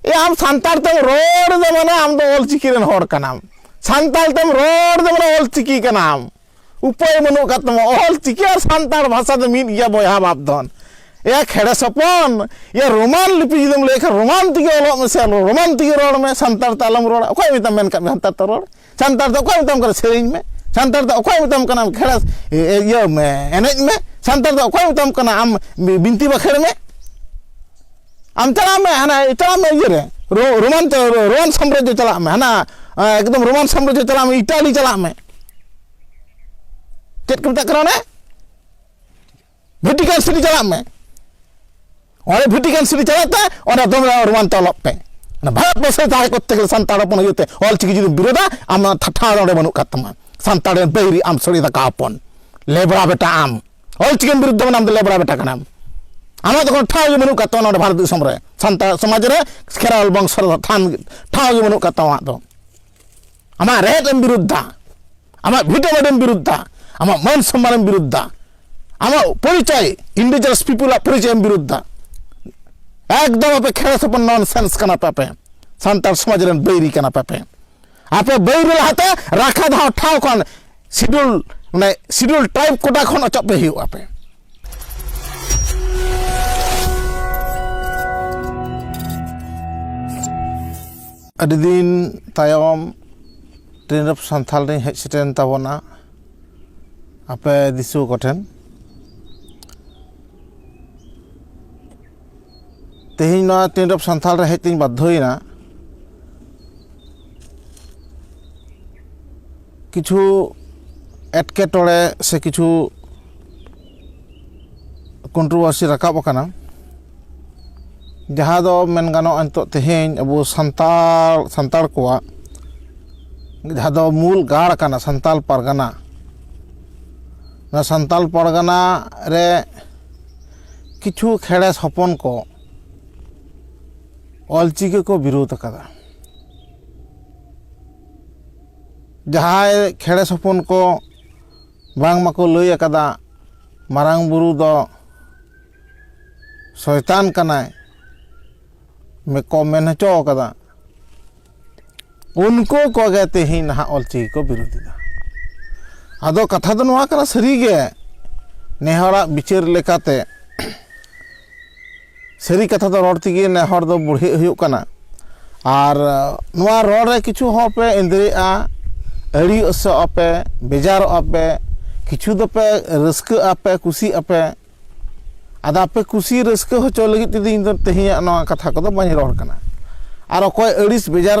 ᱮ ᱟᱢ ᱥᱟᱱᱛᱟᱲ ᱛᱮᱢ ᱨᱚᱲ ᱫᱚ ᱢᱟᱱᱮ ᱟᱢ ᱫᱚ ᱚᱞᱪᱤᱠᱤ ᱨᱮᱱ ᱦᱚᱲ ᱠᱟᱱᱟᱢ ᱥᱟᱱᱛᱟᱲ ᱛᱮᱢ ᱨᱚᱲ ᱫᱚ ᱢᱟᱱᱮ ᱚᱞᱪᱤᱠᱤ ᱠᱟᱱᱟᱢ ᱩᱯᱟᱹᱭ ᱵᱟᱹᱱᱩᱜ ᱠᱟᱫ ᱛᱟᱢᱟ ᱚᱞᱪᱤᱠᱤ ᱟᱨ ᱥᱟᱱᱛᱟᱲ ᱵᱷᱟᱥᱟ ᱫᱚ ᱢᱤᱫ ᱜᱮᱭᱟ ᱵᱚᱭᱦᱟ ᱵᱟᱯ ᱫᱚᱱ ᱮᱭᱟ ᱠᱷᱮᱲᱮ ᱥᱚᱯᱚᱱ ᱮᱭᱟ ᱨᱳᱢᱟᱱ ᱞᱤᱯᱤ ᱡᱩᱫᱤᱢ ᱞᱟᱹᱭ ᱠᱷᱟᱱ ᱨᱳᱢᱟᱱ ᱛᱮᱜᱮ ᱚᱞᱚᱜ ᱢᱮᱥᱮ ᱨᱳᱢᱟᱱ ᱛᱮᱜᱮ ᱨᱚᱲ ᱢᱮ ᱥᱟᱱᱛᱟᱲ ᱛᱮ ᱟᱞᱚᱢ ᱨᱚᱲᱟ ᱚᱠᱚᱭ ᱢᱮᱛᱟᱢ ᱢᱮᱱ ᱠᱟᱫ ᱢᱮᱭᱟ ᱥᱟᱱᱛᱟᱲ ᱛᱮ ᱨᱚᱲ ᱥᱟᱱᱛᱟᱲ ᱫᱚ ᱚᱠᱚᱭ ᱢᱮᱛᱟᱢ ᱠᱟᱱᱟ ᱥᱮᱨᱮᱧ ᱢᱮ ᱥᱟᱱᱛᱟᱲ ᱫᱚ ᱚᱠᱚᱭ ᱢᱮᱛᱟᱢ ᱠᱟᱱᱟ ᱠᱷᱮᱲᱟ ᱤᱭᱟᱹ ᱢᱮ ᱮᱱᱮᱡ ᱢᱮ ᱥᱟᱱᱛᱟᱲ ᱫᱚ ᱚᱠᱚᱭ ᱢᱮᱛᱟᱢ ᱠᱟᱱᱟ ᱟᱢ ᱵᱤᱱᱛᱤ ᱵᱟᱠᱷᱮᱲ ᱢᱮ ᱟᱢ ᱪᱟᱞᱟᱜ ᱢᱮ ᱦᱟᱱᱟ ᱪᱟᱞᱟᱜ ᱢᱮ ᱤᱭᱟᱹ ᱨᱮ ᱨᱳᱢᱟᱱ ᱨᱳᱢᱟᱱ ᱥᱟᱢᱨᱟᱡᱽᱡᱚ ᱪᱟᱞᱟᱜ ᱢᱮ ᱦᱟᱱᱟ ᱮᱠᱫᱚᱢ ᱨᱳᱢᱟᱱ ᱥᱟᱢᱨᱟᱡᱽᱡᱚ ᱪᱟᱞᱟᱜ ᱢᱮ ᱤᱴᱟᱞᱤ ᱪᱟᱞᱟᱜ ᱢᱮ ᱪᱮᱫ ᱠᱚ ᱢᱮᱛᱟᱜ ᱠᱟᱱᱟ ᱚᱱᱮ ᱵᱷᱮᱴᱤᱠᱟᱱ ᱥᱤᱴᱤ ᱪᱟᱞᱟᱜ ᱢᱮ ᱚᱸᱰᱮ ᱵᱷᱮᱴᱤᱠᱟᱱ ᱥᱤᱴᱤ ᱪᱟᱞᱟᱜ ᱛᱮ ᱚᱸᱰᱮ ᱫᱚᱢᱮ ᱨᱳᱢᱟᱱᱛᱮ ᱚᱞᱚᱜ ᱯᱮ ᱚᱱᱟ ᱵᱷᱟᱨᱚᱛ ᱵᱚᱨᱥᱚ ᱨᱮ ᱛᱟᱦᱮᱸ ᱠᱚᱨᱛᱮ ᱜᱮᱞᱮ ᱥᱟᱱᱛᱟᱲ ᱦᱚᱯᱚᱱ ᱦᱩᱭᱩᱜ ᱛᱮ ᱚᱞ ᱪᱤᱠᱤ ᱡᱩᱫᱤ ᱵᱤᱨᱳᱫᱟ ᱟᱢ ᱚᱱᱟ ᱴᱷᱟᱴᱷᱟ ᱫᱚ ᱚᱸᱰᱮ ᱵᱟᱹᱱᱩᱜ ᱠᱟᱫ ᱛᱟᱢᱟ ᱥᱟᱱᱛᱟᱲ ᱨᱮᱱ ᱵᱟᱹᱭᱨᱤ ᱟᱢ ᱥᱚᱲᱮ ᱫᱟᱠᱟ ᱦᱚᱯᱚᱱ ᱞᱮᱵᱽᱨᱟ ᱵᱮᱴᱟ ᱟᱢ ᱚᱞ ᱪᱤᱠᱤᱢ ᱵᱤᱨᱩᱫᱽ ᱫᱚ ᱟᱢ ᱫᱚ ᱞᱮᱵᱽᱨᱟ ᱵᱮᱴᱟ ᱠᱟᱱᱟᱢ ᱟᱢᱟᱜ ᱫᱚ ᱠᱳᱱᱳ ᱴᱷᱟᱶ ᱜᱮ ᱵᱟᱹᱱᱩᱜ ᱠᱟᱫ ᱛᱟᱢᱟ ᱱᱚᱸᱰᱮ ᱵᱷᱟᱨᱚᱛ ᱫᱤᱥᱚᱢ ᱨᱮ ᱥᱟᱱᱛᱟᱲ ᱥᱚᱢᱟᱡᱽ ᱨᱮ ᱠᱷᱮᱨᱣᱟᱞ ᱵᱚᱝᱥᱚ ᱨᱮ ᱴᱷᱟᱶ ᱜᱮ ᱵᱟᱹᱱᱩᱜ ᱠᱟᱫ ᱛᱟᱢᱟ ᱟᱢᱟᱜ ᱫᱚ ᱟᱢᱟᱜ ᱨᱮᱦᱮᱫ ᱮᱢ ᱵᱤᱨᱩᱫᱷᱟ ᱟᱢᱟᱜ ᱵᱷᱤᱴᱟᱹ ᱵᱟᱰᱮᱢ ᱵᱤᱨᱩᱫᱷᱟ ᱟᱢᱟᱜ ᱢᱟᱹᱱ ᱥᱚᱢᱢᱟᱱᱮᱢ ᱵᱤᱨᱩᱫᱷᱟ ᱟᱢᱟᱜ ᱯᱚᱨᱤᱪᱚᱭ ᱤᱱᱰᱤᱡᱤᱱᱟᱥ ᱯᱤᱯᱩᱞᱟᱜ ᱯᱚᱨᱤᱪᱚᱭᱮᱢ ᱵᱤᱨᱩᱫᱷᱟ ᱮᱠᱫᱚᱢ ᱟᱯᱮ ᱠᱷᱮᱲᱮ ᱥᱚᱯᱚᱱ ᱱᱚᱱ ᱥᱮᱱᱥ ᱠᱟᱱᱟ ᱯᱮ ᱟᱯᱮ ᱥᱟᱱᱛᱟᱲ ᱥᱚᱢᱟᱡᱽ ᱨᱮᱱ ᱵᱟᱹᱭᱨᱤ ᱠᱟᱱᱟ ᱯᱮ ᱟᱯᱮ ᱟᱯᱮ ᱵᱟᱹᱭᱨᱤ ᱞᱟᱦᱟᱛᱮ ᱨᱟᱠᱷᱟ ᱫᱷᱟᱣ ᱴᱷᱟᱶ ᱠᱷᱚᱱ ᱥᱤᱰᱩᱞ ᱢᱟᱱᱮ ᱥᱤᱰᱩᱞ ᱴᱨᱟᱭᱤᱵᱽ ᱠᱚᱴᱟ ᱠᱷᱚᱱ ᱚᱪᱚᱜ ᱯᱮ ᱦᱩᱭᱩᱜᱼᱟ ᱯᱮ ᱟᱹᱰᱤ ᱫᱤᱱ ᱛᱟᱭᱚᱢ ᱴᱨᱮᱱᱤᱝ ᱚᱯᱷ ᱥᱟᱱᱛᱷᱟᱞ ᱨᱤᱧ ᱦᱮᱡ ᱥᱮᱴᱮᱨᱮᱱ ᱛᱟᱵᱚᱱᱟ ᱟᱯᱮ ᱫᱤᱥᱩᱣᱟᱹ ᱠᱚᱴᱷᱮᱱ ᱛᱮᱦᱮᱧ ᱱᱚᱣᱟ ᱴᱨᱮᱱᱤᱝ ᱚᱯᱷ ᱥᱟᱱᱛᱷᱟᱞ ᱨᱮ ᱦᱮᱡ ᱛᱤᱧ ᱵᱟᱫᱽᱫᱷᱚᱭᱮᱱᱟ ᱠᱤᱪᱷᱩ ᱮᱴᱠᱮᱴᱚᱬᱮ ᱥᱮ ᱠᱤᱪᱷᱩ ᱠᱚᱱᱴᱨᱳᱵᱷᱟᱨᱥᱤ ᱨᱟᱠᱟᱵ ᱟᱠᱟᱱᱟ ᱡᱟᱦᱟᱸ ᱫᱚ ᱢᱮᱱ ᱜᱟᱱᱚᱜᱼᱟ ᱱᱤᱛᱚᱜ ᱛᱮᱦᱮᱧ ᱟᱵᱚ ᱥᱟᱱᱛᱟᱲ ᱥᱟᱱᱛᱟᱲ ᱠᱚᱣᱟᱜ ᱡᱟᱦᱟᱸ ᱫᱚ ᱢᱩᱞ ᱜᱟᱲ ᱠᱟᱱᱟ ᱥᱟᱱᱛᱟᱲ ᱯᱟᱨᱜᱟᱱᱟ ᱱᱚᱣᱟ ᱥᱟᱱᱛᱟᱲ ᱯᱟᱨᱜᱟᱱᱟ ᱨᱮ ᱠᱤᱪᱷᱩ ᱠᱷᱮᱲᱮᱥ ᱦᱚᱯᱚᱱ ᱠᱚ ᱚᱞ ᱪᱤᱠᱤ ᱠᱚ ᱵᱤᱨᱳᱫᱷ ᱟᱠᱟᱫᱟ ᱡᱟᱦᱟᱸᱭ ᱠᱷᱮᱲᱮᱥ ᱦᱚᱯᱚᱱ ᱠᱚ ᱵᱟᱝ ᱢᱟᱠᱚ ᱞᱟᱹᱭ ᱟᱠᱟᱫᱟ ᱢᱟᱨᱟᱝ ᱵᱩᱨᱩ ᱫᱚ ᱥᱚᱭᱛᱟᱱ ᱠᱟᱱᱟᱭ ᱠᱚ ᱢᱮᱱ ᱦᱚᱪᱚ ᱟᱠᱟᱫᱟ ᱩᱱᱠᱩ ᱠᱚᱜᱮ ᱛᱮᱦᱮᱧ ᱱᱟᱦᱟᱜ ᱚᱞᱪᱤᱠᱤ ᱠᱚ ᱵᱤᱨᱳᱫᱷᱤᱫᱟ ᱟᱫᱚ ᱠᱟᱛᱷᱟ ᱫᱚ ᱱᱚᱣᱟ ᱠᱟᱱᱟ ᱥᱟᱹᱨᱤᱜᱮ ᱱᱮᱦᱚᱲᱟᱜ ᱵᱤᱪᱟᱹᱨ ᱞᱮᱠᱟᱛᱮ ᱥᱟᱹᱨᱤ ᱠᱟᱛᱷᱟ ᱫᱚ ᱨᱚᱲ ᱛᱮᱜᱮ ᱱᱮ ᱦᱚᱲ ᱫᱚ ᱵᱩᱲᱦᱤ ᱦᱩᱭᱩᱜ ᱠᱟᱱᱟ ᱟᱨ ᱱᱚᱣᱟ ᱨᱚᱲ ᱨᱮ ᱠᱤᱪᱷᱩ ᱦᱚᱲ ᱯᱮ ᱤᱸᱫᱽᱨᱟᱹᱜᱼᱟ ᱟᱹᱲᱤ ᱚᱥᱚᱜ ᱟᱯᱮ ᱵᱮᱡᱟᱨᱚᱜ ᱟᱯᱮ ᱠᱤᱪᱷᱩ ᱫᱚᱯᱮ ᱨᱟᱹᱥᱠᱟᱹᱜ ᱟᱯᱮ ᱠᱩᱥᱤᱜ ᱟᱯᱮ ᱟᱫᱚ ᱟᱯᱮ ᱠᱩᱥᱤ ᱨᱟᱹᱥᱠᱟᱹ ᱦᱚᱪᱚ ᱞᱟᱹᱜᱤᱫ ᱛᱮᱫᱚ ᱤᱧ ᱫᱚ ᱛᱮᱦᱮᱧᱟᱜ ᱱᱚᱣᱟ ᱠᱟᱛᱷᱟ ᱠᱚᱫᱚ ᱵᱟᱹᱧ ᱨᱚᱲ ᱠᱟᱱᱟ ᱟᱨ ᱚᱠᱚᱭ ᱟᱹᱲᱤᱥ ᱵᱮᱡᱟᱨ